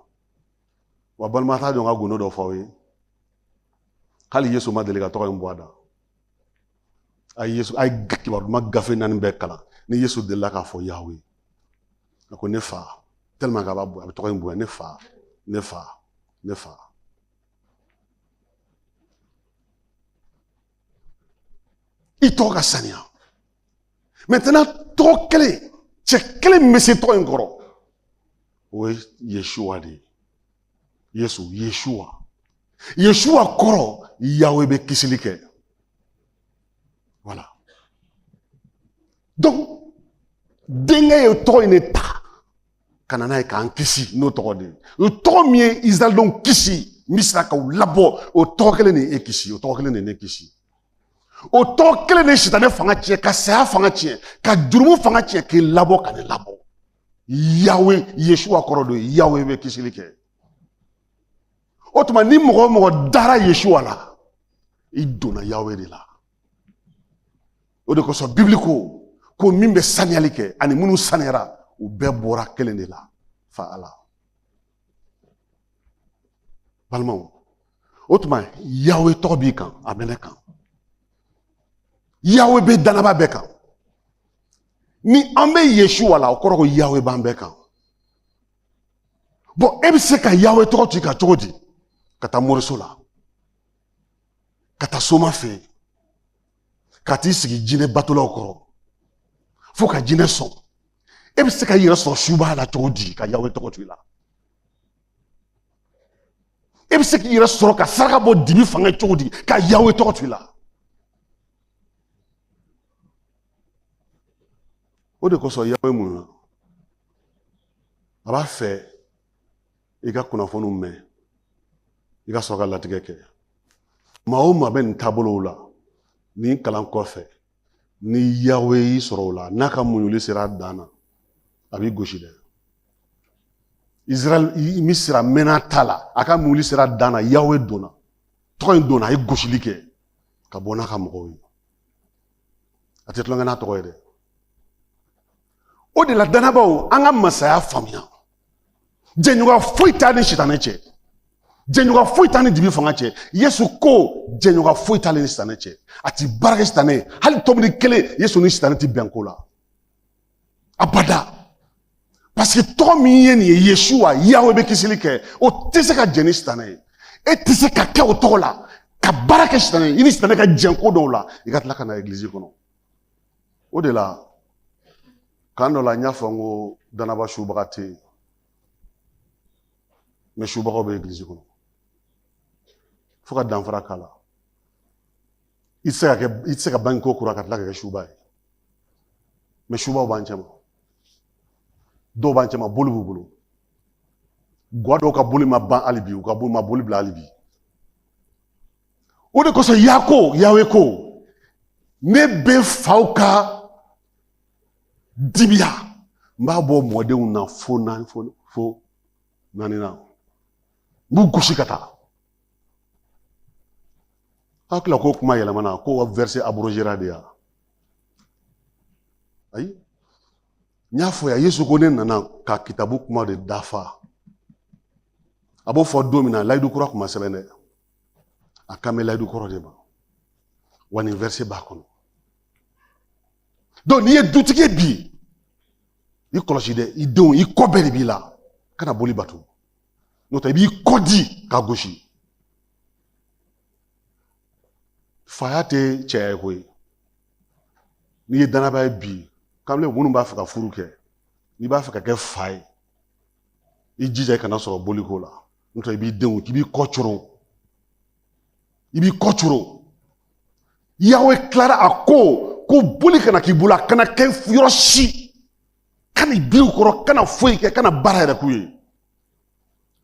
wa balima t'a to n ka gundo dɔ fɔ aw ye hali yesu ma deli ka tɔgɔ in bɔ a da a ye yesu a ye kibaru duman gafe naani bɛɛ kalan ni yesu delila k'a fɔ yawe a ko ne fa tellement k'a b'a bonya a bɛ tɔgɔ in bonya ne fa ne fa ne fa i tɔgɔ ka saniya maintenant tɔgɔ kelen cɛ kelen min bɛ se tɔgɔ in kɔrɔ o ye yesuwa de ye yesu yesuwa yesuwa kɔrɔ yawe bɛ kisili kɛ voilà donc denkɛ ye tɔgɔ in de ta ka na n'a ye k'an kisi n'o tɔgɔ de ye o tɔgɔ min ye isirayɛlidenw kisi misira k'u labɔ o tɔgɔ kelen de ye e kisi o tɔgɔ kelen de ye ne kisi o tɔgɔ kelen de ye sitanɛ fanga tiɲɛ ka saya fanga tiɲɛ ka jurumu fanga tiɲɛ k'i labɔ ka ne labɔ yawe yesuwa kɔrɔ don yawe bɛ kisili kɛ o tuma ni mɔgɔ o mɔgɔ dara yesuwa la i donna yawe de la o de kosɔn bibili ko ko min bɛ saniyali kɛ ani minnu saniyara u bɛɛ bɔra kelen de la fa ala balimaw o tuma yawe tɔgɔ b'i kan a bɛ ne kan yawe bɛ dannabaa bɛɛ kan ni an bɛ yesuwa la o kɔrɔ ko yawe b'an bɛɛ kan bon e bɛ se ka yawe tɔgɔ t'i kan cogo di ka taa moriso la ka taa soma fɛ yen ka t'i sigi jinɛ batolaw kɔrɔ fo ka jinɛ sɔn e bɛ se ka i yɛrɛ sɔrɔ subaa la cogo di ka yawe tɔgɔ to i la e bɛ se k'i yɛrɛ sɔrɔ ka saraka bɔ dibi fanga cogo di ka yawe tɔgɔ to i la o de kosɔn yawe mun na a b'a fɛ i ka kunnafoniw mɛn i ka sɔrɔ ka latigɛ kɛ maa o maa bɛ nin taabolow la nin kalan kɔfɛ ni yawe y'i sɔrɔ o la n'a ka muɲuli sera a dan na a b'i gosi dɛ israɛl misira mɛnna ta la a ka muɲuli sera a dan na yawe donna tɔgɔ in donna a ye gosili kɛ ka bɔ n'a ka mɔgɔw ye a tɛ tulonkɛ n'a tɔgɔ ye dɛ o de la danabaaw an ka masaya faamuya jɛɲɔgɔn foyi t'a ni sitanɛ cɛ jɛɲɔgɔn foyi t'a ni dibi fanga cɛ yesu ko jɛɲɔgɔn foyi t'ale ni sitanɛ cɛ a ti baara kɛ sitanɛ ye hali tɔmini kelen yesu ni sitanɛ ti bɛn ko la abada paseke tɔgɔ min ye nin ye yesuwa yawe bɛ kisili kɛ o tɛ se ka jɛn ni sitanɛ ye e tɛ se ka kɛ o tɔgɔ la ka baara kɛ sitanɛ ye i ni sitanɛ ka jɛn ko dɔw la i ka tila ka na egilizi kɔnɔ o de la kan dɔ la n y'a fɔ n ko danaba subaga tɛ yen mɛ subagaw bɛ egilizi kɔnɔ fo ka danfara k'a la i tɛ se ka bange ko kura ka tila ka kɛ suba ye mɛ subaw b'an cɛma dɔw b'an cɛma boli b'u bolo gwa dɔw ka boli ma ban hali bi u ka boli ma boli bila hali bi o de kosɔn y'a ko yawe ko ne bɛ faw ka dibiya n b'a bɔ mɔdenw na fo fo naani na n b'u gosi ka taa a hakili la ko kuma yɛlɛmana ko vɛrise aburozera de ya ayi n y'a fɔ ya yesu ko ne nana ka kitabu kuma de dafa a b'o fɔ don min na layidu kura tun ma sɛbɛn dɛ a kan bɛ layidu kɔrɔ de ma wa nin vɛrise b'a kɔnɔ dɔnku n'i ye dutigi ye bi i kɔlɔsi dɛ i denw i kɔ bɛɛ de b'i la kana boli bato n'o tɛ i b'i kɔ di ka gosi faya tɛ cɛya ye koyi n'i ye danaba ye bi kamalen minnu b'a fɛ ka furu kɛ n'i b'a fɛ ka kɛ fa ye i jija i kana sɔrɔ boliko la n'o tɛ i b'i denw k'i b'i kɔ coro i b'i kɔ coro yawe tilara a ko ko boli kana k'i bolo a kana kɛ yɔrɔ si kan'i biri u kɔrɔ kana foyi kɛ kana baara yɛrɛ k'u ye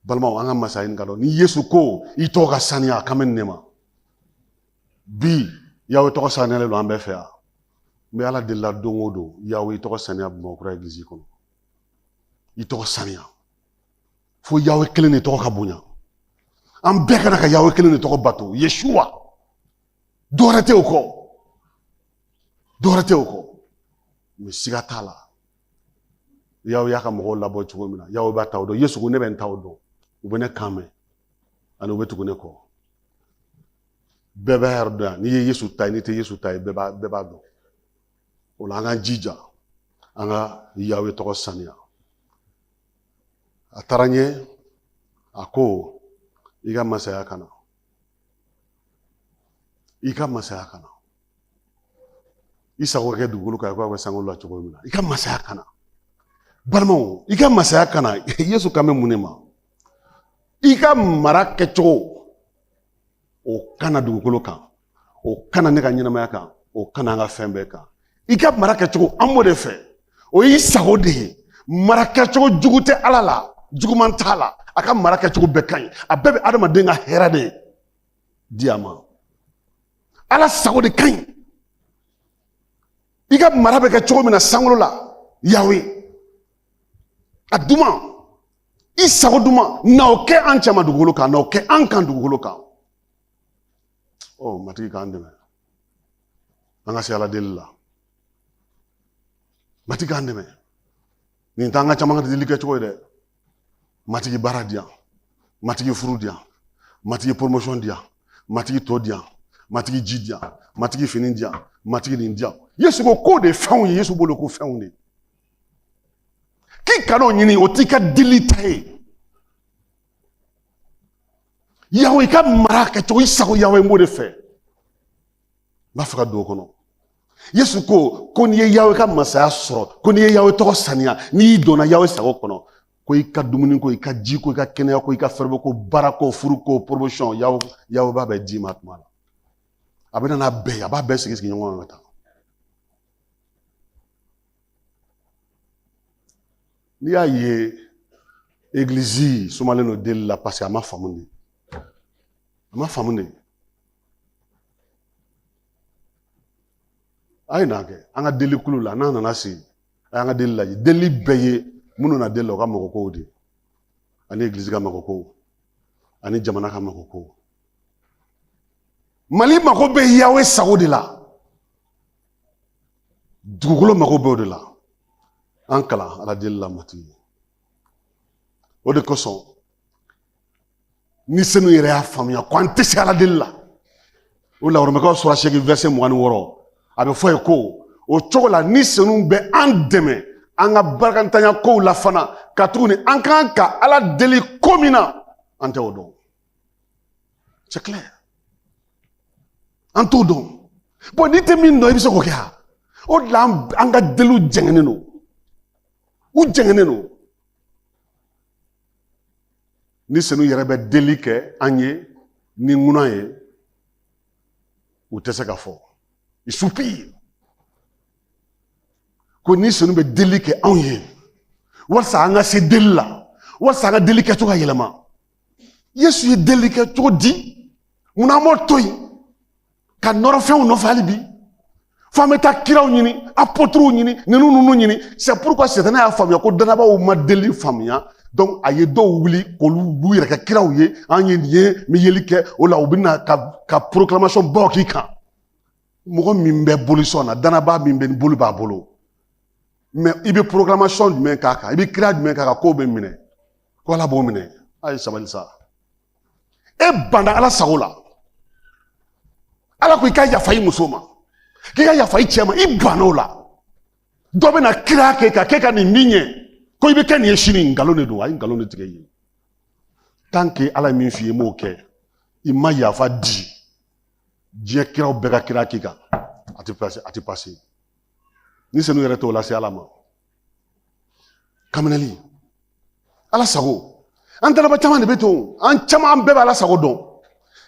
balimaw an ka masa ɲini ka dɔn ni yesu ko i tɔgɔ ka saniya a kan bɛ nin de ma bi yawe tɔgɔ saniyalen don an bɛɛ fɛ yan n bɛ ala deli la don o don yawe i tɔgɔ saniya bamakɔkura egilizi kɔnɔ i tɔgɔ saniya fo yawe kelen de tɔgɔ ka bonya an bɛɛ ka na ka yawe kelen de tɔgɔ bato yeshuwa dɔwɛrɛ tɛ o kɔ dɔwɛrɛ tɛ o kɔ mɛ siga t'a la yawe y'a ka mɔgɔw labɔ cogo min na yawe b'a taw dɔn yesu ko ne bɛ n taw dɔn u bɛ ne kan mɛn ani u bɛ tugu ne kɔ bɛɛ b'a yɛrɛ dɔn yan n'i ye yesu ta ye n'i tɛ yesu ta ye bɛɛ b'a bɛɛ b'a dɔn o la an k'an jija an ka yawe tɔgɔ saniya a taara ɲɛ a ko i ka masaya ka na i ka masaya ka na i sago kɛ dugukolo kan i ko a kɛ sankolo la cogo min na i ka masaya ka na balimaw i ka masaya ka na yesu kan bɛ mun de ma i ka mara kɛcogo o ka na dugukolo kan o ka na ne ka ɲɛnamaya kan o ka na an ka fɛn bɛɛ kan i ka mara kɛcogo an b'o de fɛ o y'i sago de ye mara kɛcogo jugu tɛ ala la juguman t'a la a ka mara kɛcogo bɛɛ ka ɲi a bɛɛ bɛ adamaden ka hɛrɛ de di a ma ala sago de ka ɲi i ka mara bɛ kɛ cogo min na sankolo la yawe a duman i sago duman na o kɛ an cɛma dugukolo kan na o kɛ an kan dugukolo kan ɔ matigi k'an dɛmɛ an ka se ala deli la matigi k'an dɛmɛ nin t'an ka caman ka deli kɛcogo ye dɛ matigi baara di yan matigi furu di yan matigi poromosɔn di yan matigi to di yan matigi ji di yan matigi fini di yan matigi nin di yan yesu ko k'o de ye fɛnw ye yesu bolo ko fɛnw de k'i kan'o ɲini o t'i ka deli ta ye yawe i ka mara kɛcogo i sago yawe n b'o de fɛ n b'a fɛ ka don o kɔnɔ yesu ko ko n'i ye yawe ka masaya sɔrɔ ko n'i ye yawe tɔgɔ saniya n'i donna yawe sago kɔnɔ ko i ka dumuni ko i ka ji ko i ka kɛnɛya ko i ka fɛɛrɛbɔ ko baara ko furu ko promotion yawe yawe b'a bɛɛ d'i ma tuma la a bɛ na n'a bɛɛ ye a b'a bɛɛ sigi sigi ɲɔgɔn kan ka taa n'i y'a ye egilizi sumalen don deli la paseke a ma faamu de a ma faamu de a ye na kɛ an ka deli kulu la n'a nana se a y'an ka deli lajɛ deli bɛɛ ye minnu na deli la u ka mago kow de ani egilizi ka mago kow ani jamana ka mago kow mali mago bɛ yawe sago de la dugukolo mago b'o de la an kalan ala deli la matigi o de kosɔn ni senu yɛrɛ y'a faamuya ko an tɛ se ala deli la o la oromɛkaw sura seegin verset mugan ni wɔɔrɔ a bɛ fɔ ye ko o cogo la ni senu bɛ an dɛmɛ an ka barakantanya kow la fana katuguni an kan ka ala deli ko min na an tɛ o dɔn C'est clair. An t'o dɔn. Bon, n'i tɛ min dɔn i bɛ se k'o kɛ a o de la an ka deliw jɛngɛnen don u jɛngɛnen don ni senu yɛrɛ bɛ deli kɛ an ye ni ŋuna ye u tɛ se ka fɔ i soupire ko ni senu bɛ deli kɛ anw ye walasa an ka se deli la walasa an ka deli kɛcogo ka yɛlɛma yesu ye deli kɛ cogo di mun na an b'o to yen ka nɔrɔ fɛnw nɔfɛ hali bi fo an bɛ taa kiraw ɲini apɔtiriw ɲini ninnu ninnu ɲini c'est pourquoi sɛtana y'a faamuya ko danabaaw ma deli faamuya donc a ye dɔw wuli k'olu b'u yɛrɛ kɛ kiraw ye an ye nin ye n bɛ yeli kɛ o la u bɛ na ka ka proclamation baw k'i kan mɔgɔ min bɛ bolisɔn na danabaa min bɛ boli b'a bolo mais i bɛ proclamation jumɛn k'a kan i bɛ kira jumɛn k'a kan k'o bɛ minɛ ko ala b'o minɛ a ye sabali sa e banda ala sago la ala ko i ka yafa i muso ma k'i ka yafa i cɛ ma i banna o la dɔ bɛna kira k'e kan k'e ka nin bɛ ɲɛ ko i bɛ kɛ nin ye sini nkalon de don a ye nkalon de tigɛ i ye tant que ala ye min f'i ye i m'o kɛ i ma yafa di diɲɛ kiraw bɛɛ ka kira k'i kan a tɛ pase a tɛ pase ni senu yɛrɛ t'o lase ala ma kaminali ala sago an talaba caman de bɛ to an caman bɛɛ bɛ ala sago dɔn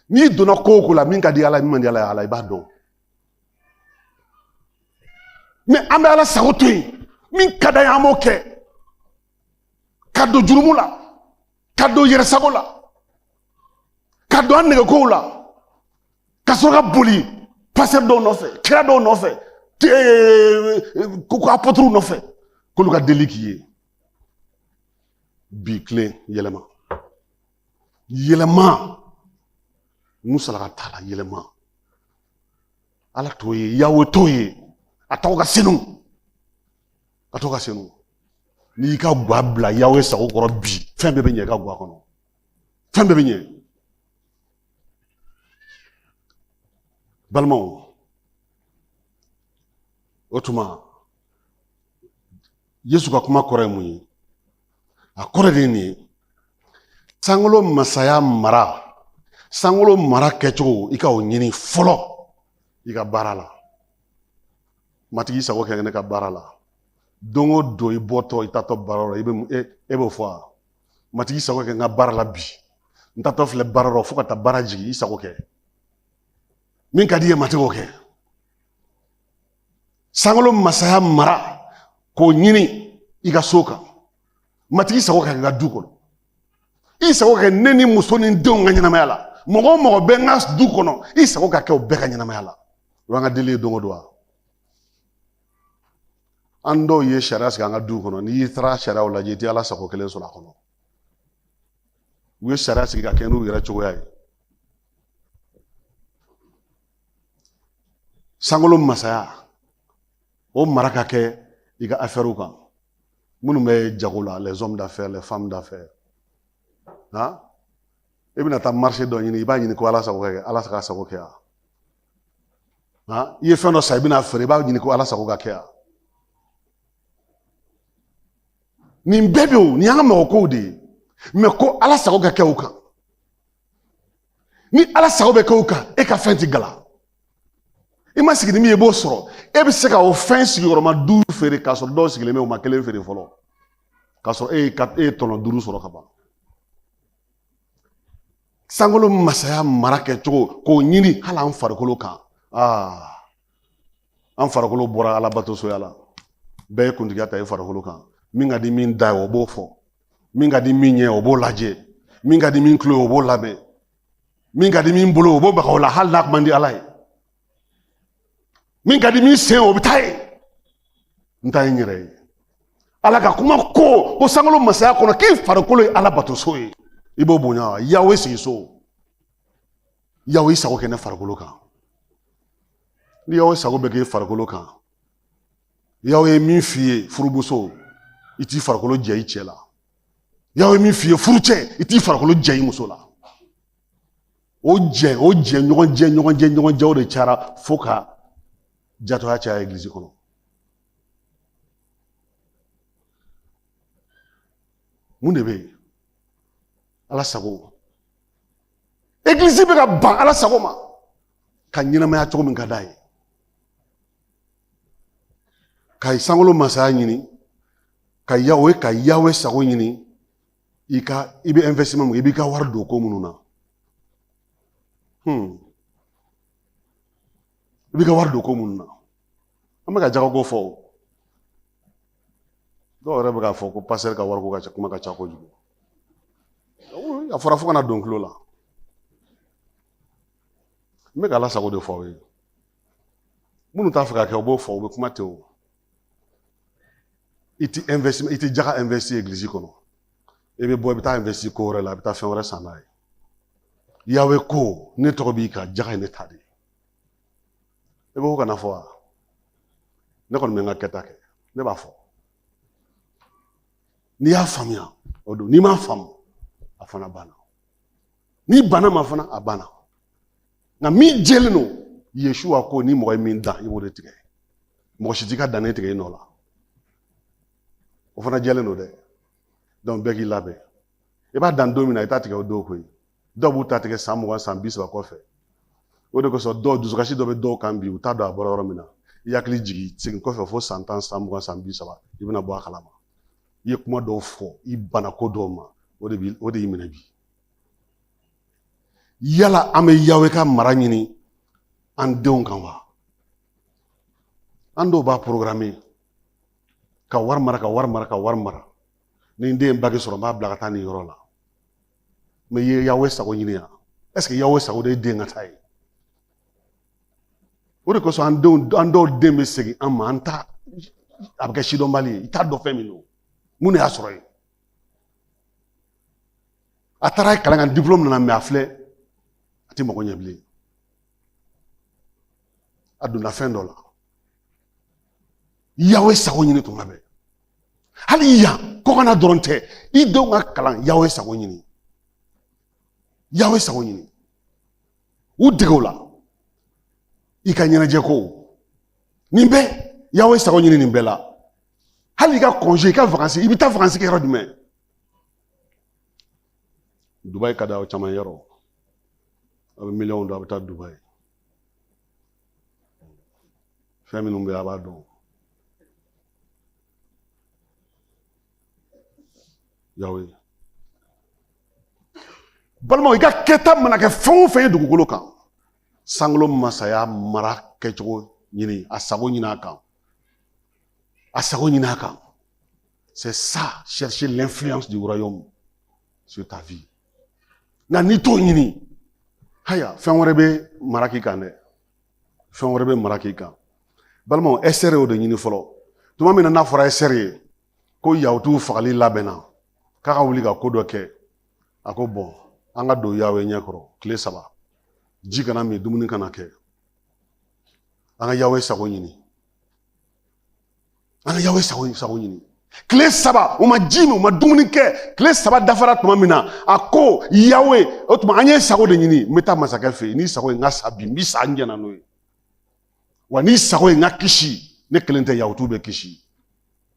n'i donna ko o ko la min ka di ala min man di ala ye ala i b'a dɔn mais an bɛ ala sago to yen min ka d'an ye an b'o kɛ ka don jurumu la ka don yɛrɛsago la ka don an nɛgɛkow la ka sɔrɔ ka boli pasteur dɔw nɔfɛ kira dɔw nɔfɛ ko apɔturuw nɔfɛ k'olu ka deli k'i ye bi kelen yɛlɛma yɛlɛma musalaka t'ala yɛlɛma ala t'o ye yawe t'o ye a tɔgɔ ka senu a tɔgɔ ka senu n'i y'i ka gwa bila yawe sago kɔrɔ bi fɛn bɛɛ bɛ ɲɛ i ka gwa kɔnɔ fɛn bɛɛ bɛ ɲɛ balimaw o tuma yesu ka kuma kɔrɔ ye mun ye a kɔrɔ de ye nin ye sankolo masaya mara sankolo mara kɛcogo i ka o ɲini fɔlɔ i ka baara la matigi i sago kɛ ne ka baara la don o don i bɔtɔ i taatɔ baara la e b'o fɔ wa matigi sago kɛ n ka baara la bi n taatɔ filɛ baara rɔ fo ka taa baara jigin i sago kɛ min ka di i ye matigi o kɛ sankolo masaya mara k'o ɲini i ka so kan matigi sago ka kɛ n ka du kɔnɔ i sago kɛ ne ni muso ni denw ka ɲɛnamaya la mɔgɔ o mɔgɔ bɛ n ka du kɔnɔ i sago ka kɛ o bɛɛ ka ɲɛnamaya la o y'an ka deli ye don o don wa an dɔw ye sariya sigi an ka duw kɔnɔ n'i taara sariyaw lajɛ i tɛ ala sago kelen sɔrɔ a kɔnɔ u ye sariya sigi ka kɛ n'u yɛrɛ cogoya ye sankolo masaya o mara ka kɛ i ka afɛriw kan minnu bɛ jago la les hommes d'affaires les femmes d'affaires i bɛna taa marché dɔ ɲini i b'a ɲini ko ala sago kɛ ala sago kɛ yan nka i ye fɛn dɔ san i bɛna feere i b'a ɲini ko ala sago ka kɛ yan nin bɛɛ bɛ o nin y'an ka mɔgɔkow de ye mais ko ala sago ka kɛ o kan ni ala sago bɛ kɛ o kan e ka fɛn ti gala i ma sigi ni min ye i b'o sɔrɔ e bɛ se ka o fɛn sigiyɔrɔma duuru feere k'a sɔrɔ dɔw sigilen bɛ o ma kelen feere fɔlɔ k'a sɔrɔ e ye e ye tɔnɔ duuru sɔrɔ ka ban sankolo masaya mara kɛcogo k'o ɲini hali an farikolo kan aa an farikolo bɔra alabatosoya la bɛɛ ye kuntigiya ta i farikolo kan min ka di min da ye o b'o fɔ min ka di min ɲɛ o b'o lajɛ min ka di min tulo o b'o lamɛn min ka di min bolo o b'o maga o la hali n'a ko man di ala ye min ka di min sen o bɛ taa yen n ta ye n yɛrɛ ye ala ka kuma ko ko sankolo masaya kɔnɔ k'i farikolo ye alabatoso ye i b'o bonya wa yawe sigi so yawe i sago kɛ ne farikolo kan ni yawe sago bɛ k'i farikolo kan yawe ye min f'i ye furumuso i t'i farikolo jɛ i cɛ la yawe ye min f'i ye furucɛ i t'i farikolo jɛ i muso la o jɛ o jɛ ɲɔgɔn jɛ ɲɔgɔn jɛ ɲɔgɔn jɛw de cayara fo ka jatɔya caya egilizi kɔnɔ mun de bɛ yen ala sago egilizi bɛ ka ban ala sago ma ka ɲɛnamaya cogo min ka d'a ye ka sankolo masaya ɲini o ye ka yawe sago ɲini i ka i bɛ investissement mun i b'i ka wari don ko minnu na hmm. i b'i ka wari don ko minnu na an bɛ ka jagako fɔ o dɔw yɛrɛ bɛ k'a fɔ ko pasitɛri ka wariko ka ca kuma ka ca kojugu a fɔra fo ka na don kulo la n bɛ ka ala sago de fɔ aw ye minnu t'a fɛ k'a kɛ u b'o fɔ u bɛ kuma ten o i ti investi i ti jaga investi egilizi kɔnɔ i bɛ bɔ i bɛ taa investi ko wɛrɛ la i bɛ taa fɛn wɛrɛ san n'a ye yawe ko ne tɔgɔ b'i kan jaga ye ne ta de ye i b'o kana fɔ wa ne kɔni bɛ n ka kɛta kɛ ne b'a fɔ n'i y'a faamuya o don n'i m'a faamu a fana banna n'i banna ma fana a banna nka min jɛlen don yesuwa ko ni mɔgɔ ye min dan i b'o de tigɛ mɔgɔ si t'i ka danni tigɛ i nɔ la o fana jɛlen don dɛ dɔnku bɛɛ k'i labɛn i b'a dan don min na i t'a tigɛ o don koyi dɔw b'u ta tigɛ san mugan san bi saba kɔfɛ o de kosɔn dɔw dusukasi dɔ bɛ dɔw kan bi u t'a dɔn a bɔra yɔrɔ min na i hakili jigin segin kɔfɛ fo san tan san mugan san bi saba i bɛna bɔ a kalama i ye kuma dɔw fɔ i banna ko dɔw ma o de bi o de y'i minɛ bi yala an bɛ yawe ka mara ɲini an denw kan wa an dɔw b'a porogaramu ka wari mara ka wari mara ka wari mara ni n den baki sɔrɔ n b'a bila ka taa nin yɔrɔ la mɛ i ye yawe sago ɲini yan ɛseke yawe sago de ye den ka taa ye o de kosɔn an denw an dɔw den bɛ segin an ma an ta a bɛ kɛ sidɔnbali ye i t'a dɔn fɛn min don mun de y'a sɔrɔ yen a taara kalan kan dipulɔmu nana mɛ a filɛ a tɛ mɔgɔ ɲɛ bilen a donna fɛn dɔ la yawe sago ɲini tuma bɛɛ hali yan kɔkana dɔrɔn tɛ i denw ka kalan yawe sago ɲini yawe sago ɲini u dege o la i ka ɲɛnajɛ ko nin bɛɛ yawe sago ɲini nin bɛɛ la hali i ka kɔnse i ka vakansi i bɛ taa vakansi kɛ yɔrɔ jumɛn dubayi ka di aw caman yɔrɔ a bɛ miliyɔnw don a bɛ taa dubayi fɛn minnu bɛ a b'a dɔn yawe balimaw i ka kɛta mana kɛ fɛn o fɛn ye dugukolo kan sankolo masaya mara kɛcogo ɲini a sago ɲini a kan a sago ɲini a kan c'est ça chercher l'influence du royaume sur ta vie nka n'i t'o ɲini haya fɛn wɛrɛ bɛ mara k'i kan dɛ fɛn wɛrɛ bɛ mara k'i kan balimaw ɛsitɛri y'o de ɲini fɔlɔ tuma min na n'a fɔra ɛsitɛri ye ko yahutuw fagali labɛnna k'a ka wuli ka ko dɔ kɛ a ko bon an ka don yawe ɲɛ kɔrɔ tile saba ji kana min dumuni kana kɛ an ka yawe sago ɲini an ka yawe sago ɲini tile saba u ma ji min u ma dumuni kɛ tile saba dafara tuma min na a ko yawe o tuma an y'i sago de ɲini n bɛ taa masakɛ fɛ yen n'i sago ye n ka sa bi n bi sa n jɛnna n'o ye wa n'i sago ye n ka kisi ne kelen tɛ yahutuw bɛ kisi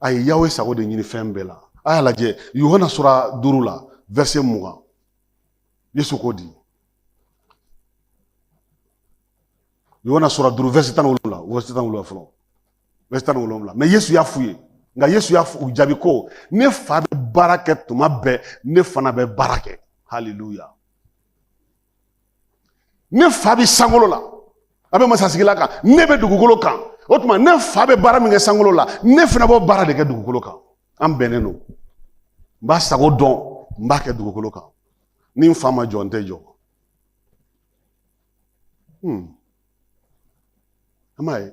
a ye yawe sago de ɲini fɛn bɛɛ la a y'a lajɛ yohana sura duuru la vɛrse mugan yesu ko di yohana sura duuru vɛrse tan ni wolonwula vɛrse tan ni wolonwula fɔlɔ vɛrse tan ni wolonwula mais yesu y'a f'u ye nka yesu y'a f'u jaabi ko ne fa bɛ baara kɛ tuma bɛɛ ne fana bɛ baara kɛ haleluya ne fa bɛ sankolo la a bɛ masasigila kan ne bɛ dugukolo kan o tuma ne fa bɛ baara min kɛ sankolo la ne fana b'o baara de kɛ dugukolo kan an bɛnnen don n b'a sago dɔn n b'a kɛ dugukolo kan ni n fa ma jɔ n tɛ jɔ hmm. an b'a ye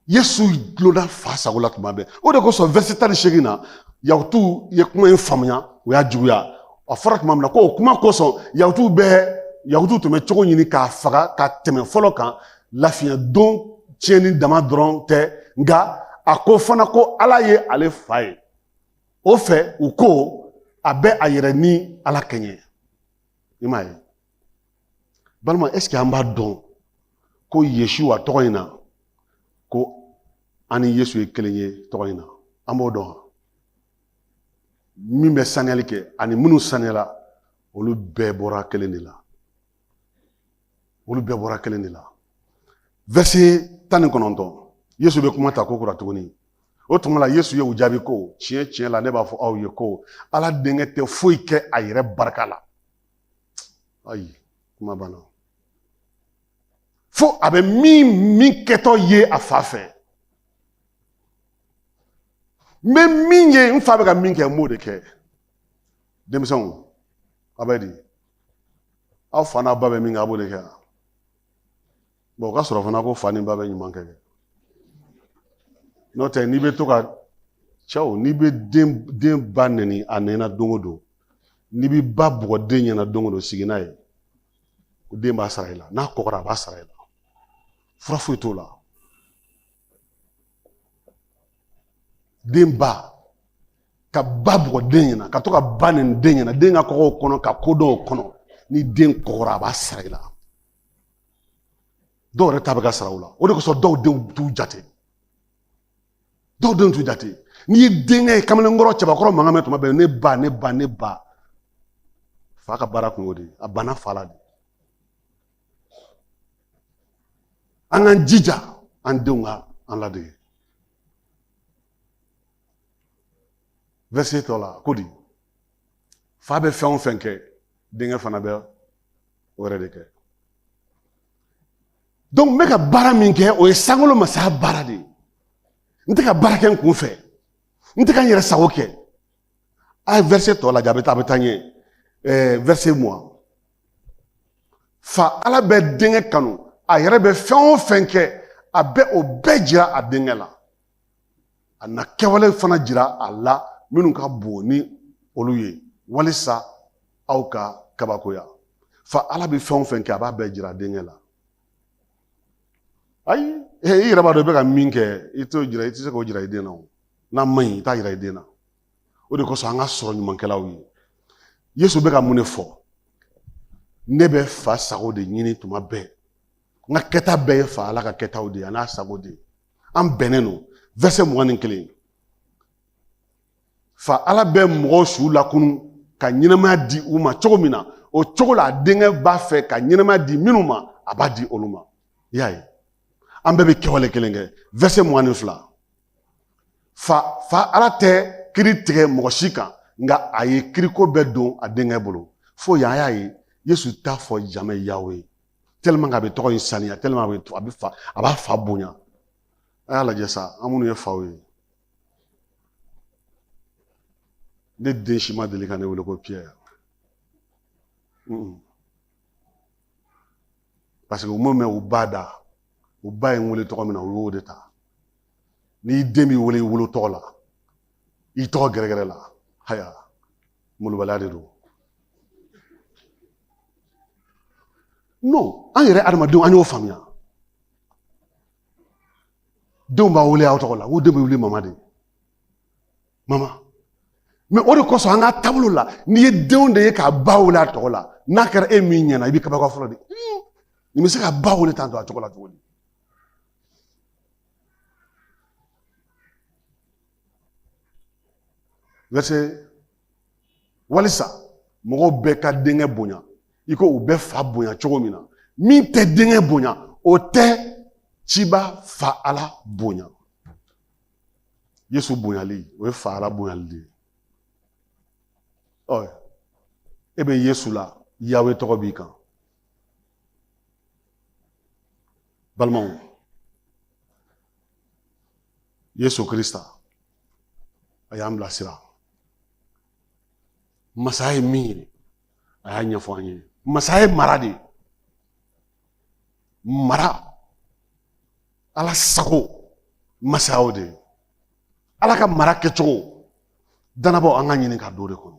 yesu dulonna fa sago la tuma bɛɛ o de kosɔn vɛrse tan ni seegin na yahutuw ye kuma in faamuya o y'a juguya a fɔra tuma min na ko o kuma kosɔn yahutuw bɛɛ yahutuw tun bɛ cogo ɲini k'a faga ka tɛmɛ fɔlɔ kan lafiɲɛ don tiɲɛni dama dɔrɔn tɛ nka a ko fana ko ala ye ale fa ye o fɛ u ko a bɛ a yɛrɛ ni ala kɛɲɛ i m'a ye balima est-ce que an b'a dɔn ko yeshuwa tɔgɔ in na ko an ni yesu ye kelen ye tɔgɔ in na an b'o dɔn min bɛ saniyali kɛ ani minnu saniyala olu bɛɛ bɔra kelen de la olu bɛɛ bɔra kelen de la vɛrse tan ni kɔnɔntɔn yesu bɛ kuma ta kokura tuguni o tuma la yesu ye u jaabi ko tiɲɛ tiɲɛ la ne b'a fɔ aw ye ko ala denkɛ tɛ foyi kɛ a yɛrɛ barika la ayi kuma banna fo a bɛ min min kɛtɔ ye a fa fɛ n bɛ min ye n fa bɛ ka min kɛ n b'o de kɛ denmisɛnw a bɛ di a fa n'a ba bɛ min kɛ a b'o de kɛ o ka sɔrɔ fana ko fa ni ba bɛ ɲuman kɛ n'o tɛ n'i bɛ to ka cɛw n'i bɛ den ba nɛni a ɲɛna don o don n'i bɛ ba bugɔ den ɲɛna don o don sigi n'a ye ko den b'a sara i la n'a kɔgɔra a b'a sara i la fura foyi t'o la den ba ka ba bugɔ den ɲɛna ka to ka ba nɛni den ɲɛna den ka kɔgɔ o kɔnɔ ka kodɔn o kɔnɔ ni den kɔgɔra a b'a sara i la dɔw yɛrɛ ta bɛ ka sara u la o de kosɔn dɔw denw t'u jate dɔw denw t'u jate n'i ye denkɛ ye kamalenkɔrɔ cɛbakɔrɔ mankan mɛn tuma bɛɛ ne ba ne ba ne ba fa ka baara kun y'o de ye a banna fa la de an k'an jija an denw ka an ladege verset tɔ la ko di fa bɛ fɛn o fɛn kɛ denkɛ fana bɛ o yɛrɛ de kɛ donc n bɛ ka baara min kɛ o ye sankolo masaya baara de ye n tɛ ka baara kɛ n kun fɛ n tɛ ka n yɛrɛ sago kɛ a ye verset tɔ lajɛ a bɛ taa a bɛ taa ɲɛ ɛɛ verset mugan fa ala bɛ denkɛ kanu a yɛrɛ bɛ fɛn o fɛn kɛ a bɛ o bɛɛ jira a denkɛ la a na kɛwale fana jira a la minnu ka bon ni olu ye walisa aw ka kabakoya fa ala bɛ fɛn o fɛn kɛ a b'a bɛɛ jira denkɛ la ayi i yɛrɛ b'a dɔn i bɛ ka min kɛ i t'o jira i tɛ se k'o jira i den na o n'a man ɲi i t'a jira i den na o de kosɔn an ka sɔrɔ ɲumankɛlaw ye yesu bɛ ka mun de fɔ ne bɛ fa sago de ɲini tuma bɛɛ n ka kɛta bɛɛ ye fa ala ka kɛtaw de ye a n'a sago de ye an bɛnnen don verset mugan ni kelen fa ala bɛ mɔgɔw su lakunu ka ɲɛnamaya di u ma cogo min na o cogo la a denkɛ b'a fɛ ka ɲɛnamaya di minnu ma a b'a di olu ma i y'a ye an bɛɛ bɛ kɛwale kelen kɛ verset mugan ni fila fa fa ala tɛ kiri tigɛ mɔgɔ si kan nka a ye kiriko bɛɛ don a denkɛ bolo fo yan a y'a ye yesu t'a fɔ jamais yawe a bɛ tɔgɔ in saniya a bɛ to a bɛ fa a b'a fa bonya a y'a lajɛ sa an minnu ye faw ye ne den si ma deli ka ne wele ko pierre parce que u m'o mɛn u ba da u ba ye n wele tɔgɔ min na u y'o de ta n'i den b'i wele i wolo tɔgɔ la i tɔgɔ gɛrɛgɛrɛ la haya malobaliya de don non an yɛrɛ adamadenw an y'o faamuya denw b'a wele aw tɔgɔ la ko denw bɛ wele mama de mama mɛ o de kosɔn an ka taabolo la n'i ye denw de ye k'a ba wele a tɔgɔ la n'a kɛra e min ɲɛna i bɛ kabako fɔlɔ de nin bɛ se k'a ba wele tan to a tɔgɔ la cogo di walisa mɔgɔw bɛɛ ka denkɛ bonya i ko u bɛ fa bonya cogo min na min tɛ denkɛ bonya o tɛ ciba fa ala bonya yesu bonyali o ye fa ala bonyali de ye ɔ e bɛ yesu la yawe tɔgɔ b'i kan balimaw yesu kirista a y'an bilasira masaya ye min ye a y'a ɲɛfɔ an ye masaya ye mara de ye mara ala sago masaya o de ye ala ka mara kɛcogo danabaw an ka ɲini ka don o de kɔnɔ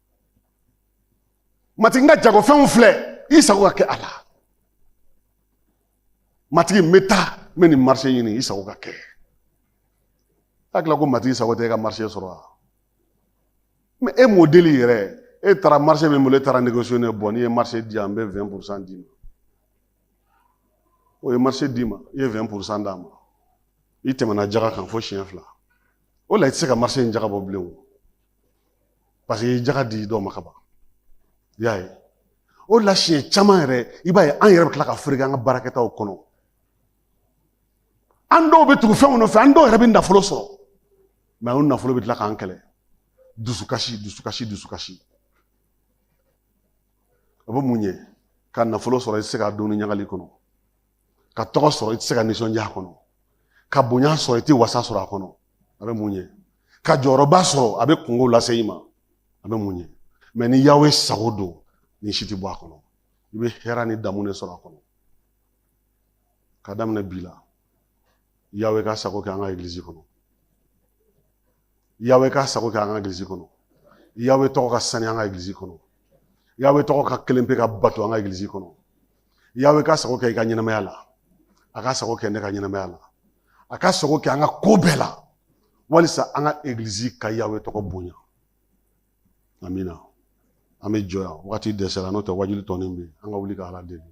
matigi n ka jagofɛnw filɛ i sago ka kɛ a la matigi n bɛ taa n bɛ nin marise ɲini i sago ka kɛ hakili la ko matigi sago tɛ e ka marise sɔrɔ wa mɛ e m'o deli yɛrɛ e taara marise min bolo e taara negosiye ne bɔ n'i ye marise di yan n bɛ wɛn purusan d'i ma o ye marise d'i ma i ye wɛn purusan d'a ma i tɛmɛna jaga kan fo siɲɛ fila o la i tɛ se ka marise in jaga bɔ bilen o paseke i ye jaga di dɔw ma ka ban i y'a ye o la siɲɛ caman yɛrɛ i b'a ye an yɛrɛ bɛ tila ka fereke an ka baarakɛtaw kɔnɔ an dɔw bɛ tugu fɛnw nɔfɛ an dɔw yɛrɛ bɛ nafolo sɔrɔ mɛ o nafolo bɛ tila k'an kɛlɛ dusukasi dusukasi dusukasi o bɛ mun ɲɛ ka nafolo sɔrɔ i tɛ se k'a dun ɲagali kɔnɔ ka tɔgɔ sɔrɔ i tɛ se ka nisɔndiya a kɔnɔ ka bonya sɔrɔ i tɛ wasa sɔrɔ a kɔnɔ o bɛ mun ɲɛ ka jɔyɔrɔba sɔrɔ a bɛ kunko lase i ma o bɛ mun ɲɛ mɛ ni yawe sago don nin si tɛ bɔ a kɔnɔ i bɛ hɛrɛ ni daamu de sɔrɔ a kɔnɔ ka daminɛ bi la yawe k'a sago kɛ an ka egilizi kɔnɔ yawe k'a sago kɛ an ka egilizi kɔnɔ yawe tɔgɔ ka saniya an ka egilizi kɔnɔ yawe tɔgɔ ka kelen pe ka bato an ka egilizi kɔnɔ Yawe k'a sago kɛ i ka ɲɛnamaya la a k'a sago kɛ ne ka ɲɛnamaya la a k'a sago kɛ an ka ko bɛɛ la walisa an ka egilizi ka yawe tɔgɔ bonya amina an bɛ jɔ yan wagati dɛsɛra n'o tɛ wajuli tɔnin bɛ yen an ka wuli ka ala deli